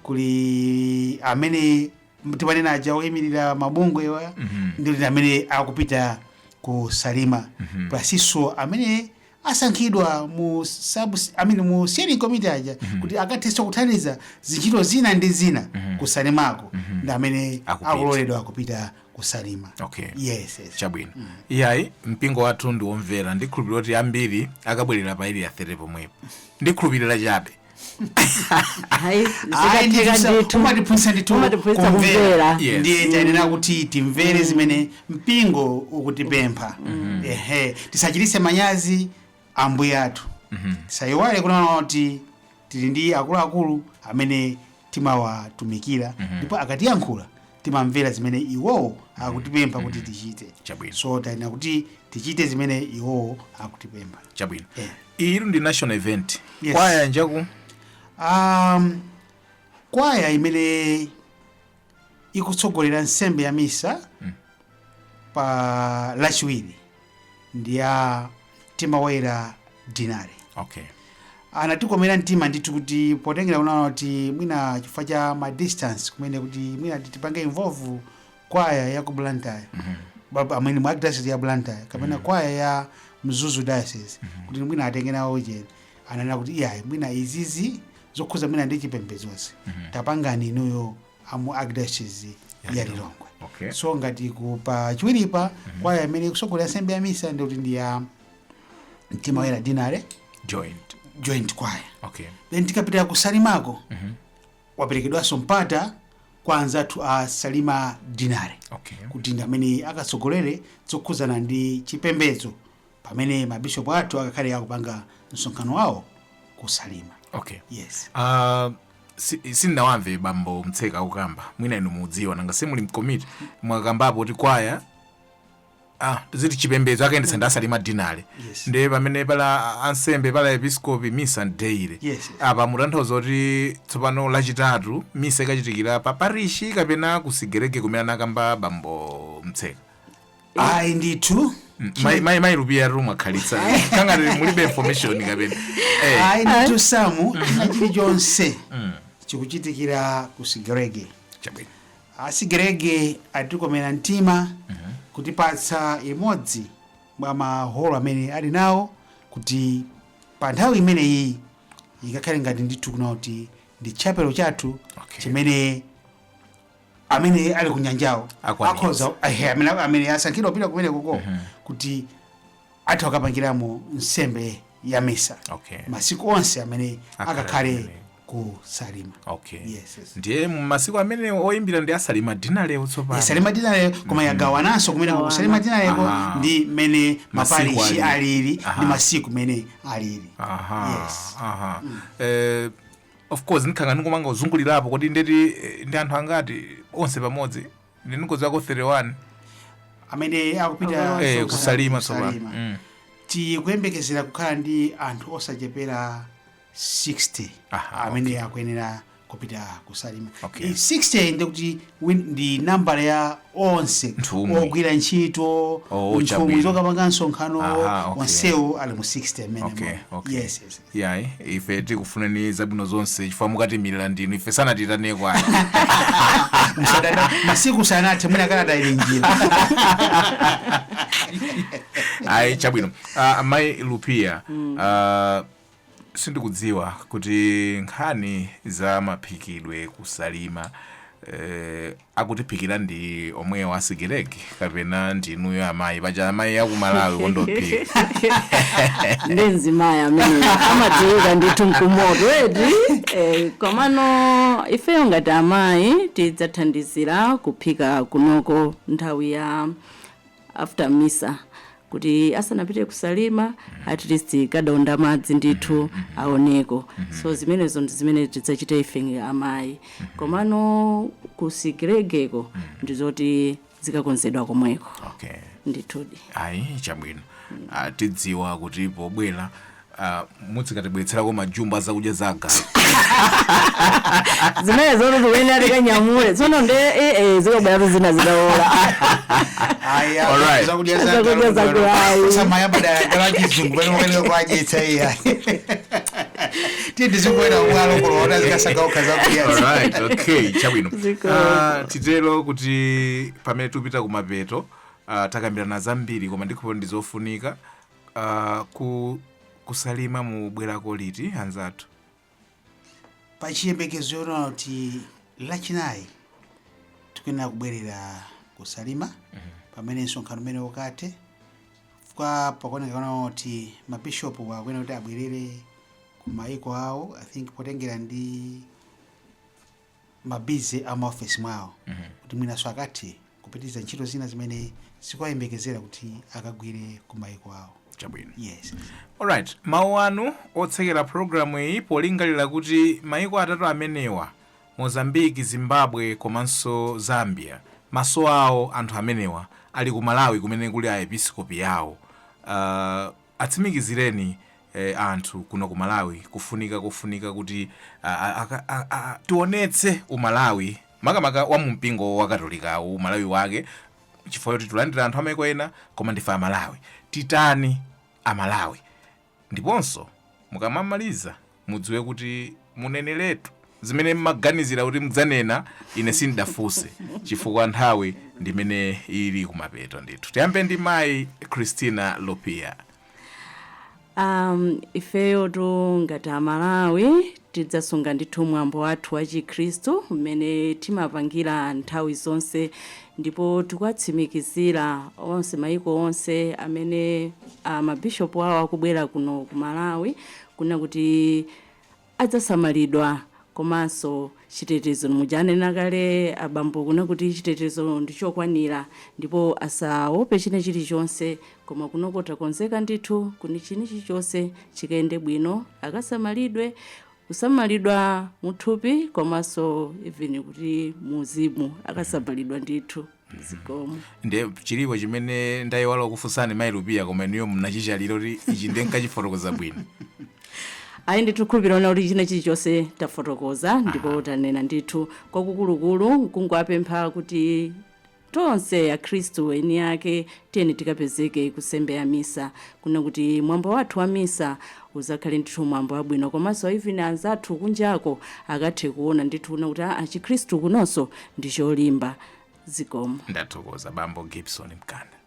kuli amene timanena aja oyimirira mabungwewa ndi amene akupita ku salima plusnso amene asankhidwa mu sub amene mu steering committee aja kuti akathenso kuthandiza zintchito zina ndi zina ku salimako ndi amene Akupita. akuloledwa kupita ku salima Okay. yes, yes. chabwino iyayi mpingo wathu ndi womvera ndikhulupirira kuti ambiri akabwerera pa area 30 pomwepo ndikhulupirira chabe Ayi, Ayi, ndi zikatheka zisa- ndithu. umatiphunzitsa ndithu Umatiphunzitsa kumvera. kumvera. Yes. ndiye tanena kuti timvere zimene mpingo ukutipempha ehe tisachititse manyazi ambuye athu tisayiwale kunena kuti tili ndi akuluakulu amene timawatumikira ndipo akatiyankhula timamvera zimene iwowo akutipempha kuti tichite Chabwino. so tiyenera kuti tichite zimene iwowo akutipempha chabwino Eh. iyitu ndi national event Yes. kwaya njaku um, kwaya imene ikutsogolera nsembe ya misa pa lachiwiri ndi ya mtima woyera dinari okay anatikomera mtima ndithu kuti potengera kuwona kuti mwina chifukwa cha ma distance kumene kuti mwina tipange involve kwaya ya ku blantyre Ba- amene mu archdiocese ya blantyre kapena kwaya ya mzuzu diocese kuti mwina atenge nawo ujeni ananena kuti iyayi mwina izizi zokhuza mwina ndi chipembedzozi tapangani inuyo a mu archdiocese Ya ya Lilongwe. lilongwe Okay. so ngati ku pa chiwiripa kwaya imene ikusogolera nsembe ya misa ndikuti ndi ya mtima woyera dinale joint joint kwaya okay then tikapita ku salimako waperekedwanso mpata kwa anzathu a salima dinale okay kuti ndi amene akatsogolere zokhudzana ndi chipembedzo pamene mabishopu athu akakhale akupanga msonkhano wawo ku salima okay yes Ah, si- sindinawamve bambo mtseka akukamba mwina inu mudziwa nanga simuli mkomiti mwakambapo kuti kwaya ah, ziti chipembedzo akayendetsa ndi asalima dinale Yes. ndiye pamene pali ansembe pali aepiscopi misa ndiye Yes. apa mutanthauza kuti tsopano lachitatu misa ikachitikira pa parishi kapena kusigereke kumene anakamba bambo mtseka ayi ndithu Mai- mai mai lupiya mukukhalitsa ngati mulibe information kapena Eh, ayi ndithu samu china chilichonse chikuchitikira ku sigrege chabwino asigrege atikomera mtima kutipatsa imodzi mwa maholo amene ali nawo kuti pa nthawi imeneyi ikakhale ngati ndithu kunena kuti ndi chapelo chathu Okay. chimene amene ali ku nyanjawo Akwanitsa. akhoza ehe, amene amene asankhidwa kupita kumene koko kuti atha kukapangiramo nsembe ya misa Okay. masiku onse amene Akhale akakhale kumene. ku salima okay Yes, yes. ndiye masiku amene oyimbira ndi asalima dinalewo tsopano salima dinaleyo koma yagawananso kumene ku salima dinaleko Aha. ndi mmene Masiku maparishi alili. alili Aha. ndi masiku mmene alili aha yes aha Eh, Of course ndikhala ngati ndikupanga kuzungulirapo kodi ndeti eh, ndi anthu angati onse pamodzi ndi ndikudziwako 31 amene akupita Awa. eh, ku- kusalima tsopano kusalima. Mm. tikuyembekezera kukhala ndi anthu osachepera 60 Aha, amene akuyenera kupita kusalima Okay. Eh, 60 ndikuti win ndi nambala ya onse Nthumwi. ogwira ntchito Oh, nthumwi chabwino. zokapanga msonkhano Aha, okay. onsewo ali mu 60 mmene okay, mwa- okay. yes, yes. yayi ife tikufunirani zabwino zonse chifukwa mukatiimirira ndinu ife sanatiitane kwani Msadada, masiku sanathe mwina kalata ili njira ayi chabwino uh, amayi Lupiya uh, Sindikudziwa kuti nkhani za maphikidwe ku Salima eeh akutiphikira ndi omwewo a Sigelege kapena ndi inuyo amayi paja amayi aku Malawi kukonda kuphika. Ndi mzimayi amene amadziwika ndithu n'kumoto eti eh, komano ifeyo ngati amayi tidzathandizira kuphika kunoko nthawi ya after Misa kuti asanapite ku Salima at least kadaunda madzi ndithu aoneko so zimenezo ndi zimene tidzachita ife ngati amayi komano ku Sigelegeko ndi zoti zikakonzedwa komweko okay ndithudi ayi chabwino Ah, tidziwa kuti pobwera Ah, mudzikatibweretserako majumba a zakudya za agalu zimene zoti tikuyenera tikanyamule tsono nde eh, eh, zikabweratu zina zitaola Aya, Alright. zakudya za Zakudya galu, za galu. galu. Sasa mayamba daya gala chizungu, pano mukali kwa ajitsa iya. Tiye tizingoenda ubwalo kuno, ona zikasaka ukha zakudya. Alright, okay, chabwino Zikomo. Ah, titero kuti pamene tupita kumapeto ah, takambirana zambiri koma ndikhulupirira ndi zofunika Uh, ku Salima mubwerako liti anzathu pa chiyembekezo choona kuti lachinayi tikuyenera kubwerera ku Salima pamene msonkhano umenewu ukathe chifukwa pakuoneka ngati mabishopu akuyenera kuti abwerere ku maiko awo I think potengera ndi ma busy a maofesi mwawo kuti mwinanso akathe kupitiriza ntchito zina zimene zikuwayembekezera kuti akagwire ku maiko awo chabwino yes alright mawu anu otsekera programu iyi polingalira kuti maiko atatu amenewa Mozambique Zimbabwe komanso Zambia maso awo anthu amenewa ali ku Malawi kumene kuli aepiskopi awo uh, Atsimikizireni anthu kuno ku Malawi kufunika kofunika kuti tionetse uMalawi makamaka wa mu mpingo wa Katolikawu uMalawi wake chifukwa choti tikulandira anthu a maiko ena koma ndife a Malawi titani a Malawi ndiponso mukamamaliza mudziwe kuti muneneretu zimene mmaganizira kuti mudzanena ine sindinafunse chifukwa nthawi ndimene ili kumapeto ndithu tiyambe ndi mayi christina lupiya um, ifeyotu ngati amalawi tidzasunga ndithu mwambo wathu wa chikhristu mmene timapangira nthawi zonse ndipo tikuwatsimikizira onse mayiko onse amene uh, mabishopu awo akubwera kuno ku malawi kunena kuti adzasamalidwa komanso chitetezo muja ananena kale abambo kunena kuti chitetezo ndi chokwanira ndipo asaope china chilichonse koma kunoko takonzeka ndithu kuti china chilichonse chikayende bwino akasamalidwe kusamalidwa muthupi komanso even kuti muuzimu akasamalidwa ndithu. zikomo nde chilipo chimene ndayiwala kufunsani mayi lupiya koma inuyo mnachitchalira kuti ichi nde nkachifotokoze bwino ayi ndithu ndikhulupirira kunena kuti china chilichonse tafotokoza ndipo tanena ndithu kwakukulukulu nkungowapempha kuti tonse akhristu eni ake tiyeni tikapezeke ku nsembe ya misa kunena kuti mwambo wathu wa misa uzakhale ndithu mwambo wabwino komanso even anzathu kunjako akathe kuona ndithu kunena kuti chikhristu kunonso ndi cholimba zikomo ndathokoza bambo gibson mkanda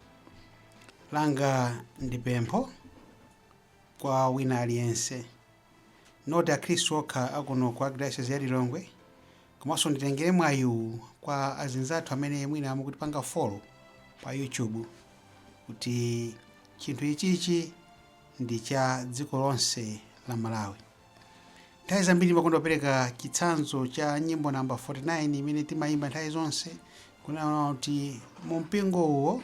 langa ndi pempho kwa wina aliyense not akhristu okha akuno ku archdiocese ya lilongwe komanso nditengere mwayiwu kwa azinzathu amene mwina akutipanga follow pa youtube kuti chinthu ichichi ndi cha dziko lonse la malawi nthawi zambiri ndimakonda kupereka chitsanzo cha nyimbo namba 49 imene timayimba nthawi zonse kunena kuti mu mpingo uwo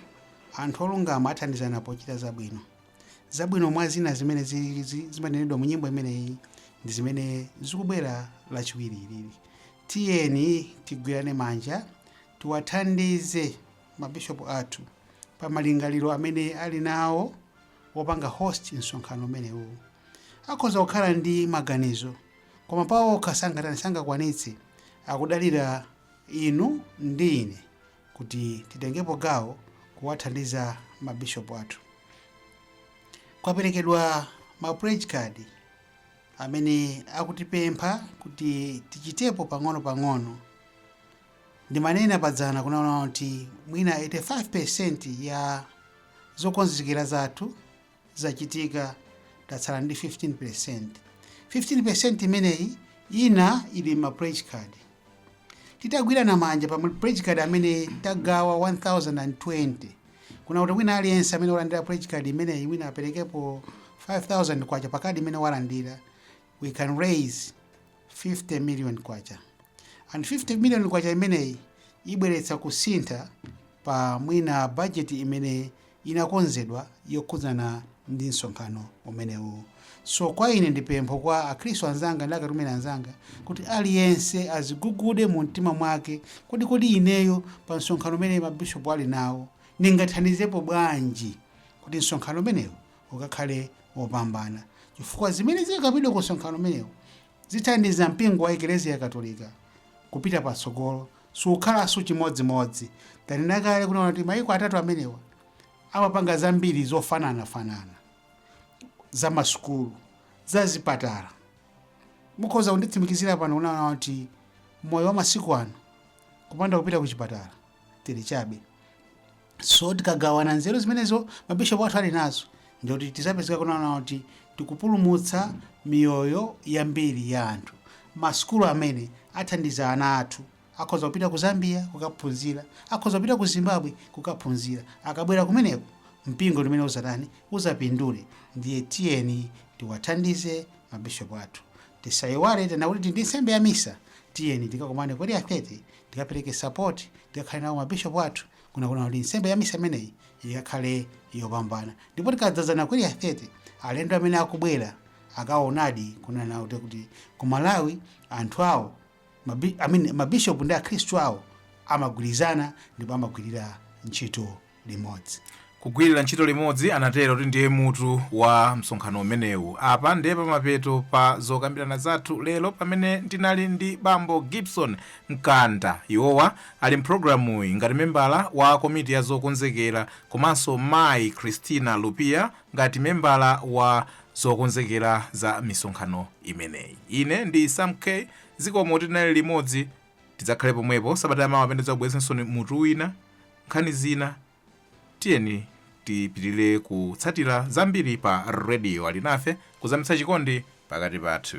anthu olungama athandizana pochita zabwino zabwino mwa zina zimene zi- zi- zimanenedwa mu nyimbo imeneyi ndi zimene zikubwera lachiwiri ilili tiyeni tigwirane manja tiwathandize mabishopu athu pa malingaliro amene ali nawo wopanga host msonkhano umenewu akhoza kukhala ndi maganizo koma paokha sangatani sangakwanitse akudalira inu ndi ine kuti titengepo gawo kuwathandiza mabishopu athu kwaperekedwa ma pledge card amene akutipempha kuti tichitepo pang'ono-pang'ono Ndimanena padzana kunena kuti mwina 85% ya zokonzekera zathu zachitika, tatsala ndi 15%. 15% imeneyi ina ili m'ma pledge card. Titagwirana manja pa ma pledge card amene tagawa 1020 kunena kuti wina aliyense amene walandira pledge card imeneyi mwina aperekepo 5000 kwacha pa kadi imene walandira we can raise 50 million kwacha and 50 million kwacha imeneyi ibweretsa kusintha pa mwina budget imene inakonzedwa yokhudzana ndi msonkhano umenewu so kwa ine ndi pempho kwa akhristu anzanga ndi a Catholic men anzanga kuti aliyense azigugude mu mtima mwake kodi kodi ineyo pa msonkhano umene mabishopu ali nawo ndingathandizepo bwanji kuti msonkhano umenewu ukakhale wopambana, chifukwa zimene zikakambidwa ku msonkhano umenewu zithandiza mpingo wa Eklezia Katolika kupita patsogolo, sukhalanso chimodzimodzi. Tanena kale kunena kuti mayiko atatu amenewa amapanga zambiri zofananafanana za masukulu za zipatala mukhoza kunditsimikizira pano kunena kuti moyo wa masiku ano kupanda kupita ku chipatala tili chabe so tikagawana nzeru zimenezo mabishopu athu ali nazo ndikuti tizapezeka kunena kuti tikupulumutsa miyoyo yambiri ya anthu masukulu amene athandiza ana athu akhoza kupita ku zambia kukaphunzira akhoza kupita ku zimbabwe kukaphunzira akabwera kumeneko mpingo umenewu uzatani uzapindule ndiye tiyeni tiwathandize mabishopu athu tisayiwale tanena kuti tili ndi nsembe ya misa tiyeni tikakumane ku area 30 tikapereke support tikakhale nawo mabishopu athu kunena kunena kuti nsembe ya misa imeneyi ikakhale yopambana ndipo tikadzazana ku area 30 alendo amene akubwera akaonadi kunena kuti- kuti ku malawi anthu awo mabi- I mean mabishopu ndi akhristu awo amagwirizana ndipo amagwirira ntchito limodzi. Kugwirira ntchito limodzi, anatero, kuti ndiye mutu wa msonkhano umenewu. Apa ndiye pamapeto pa zokambirana zathu lero pamene ndinali ndi bambo Gibson Mkanda. Iwowa ali mpulogalamuyi ngati membala wa komiti ya zokonzekera komanso mayi Christina Lupia ngati membala wa zokonzekera za misonkhano imeneyi. Ine ndi Sam K. Zikomo kuti tinali limodzi. Tidzakhale pomwepo sabata yamawa pamene tidzakubweretsereninso mutu wina, nkhani zina. Tiyeni tipitirire kutsatira zambiri pa Radio Alinafe, kuzamitsa chikondi pakati pathu.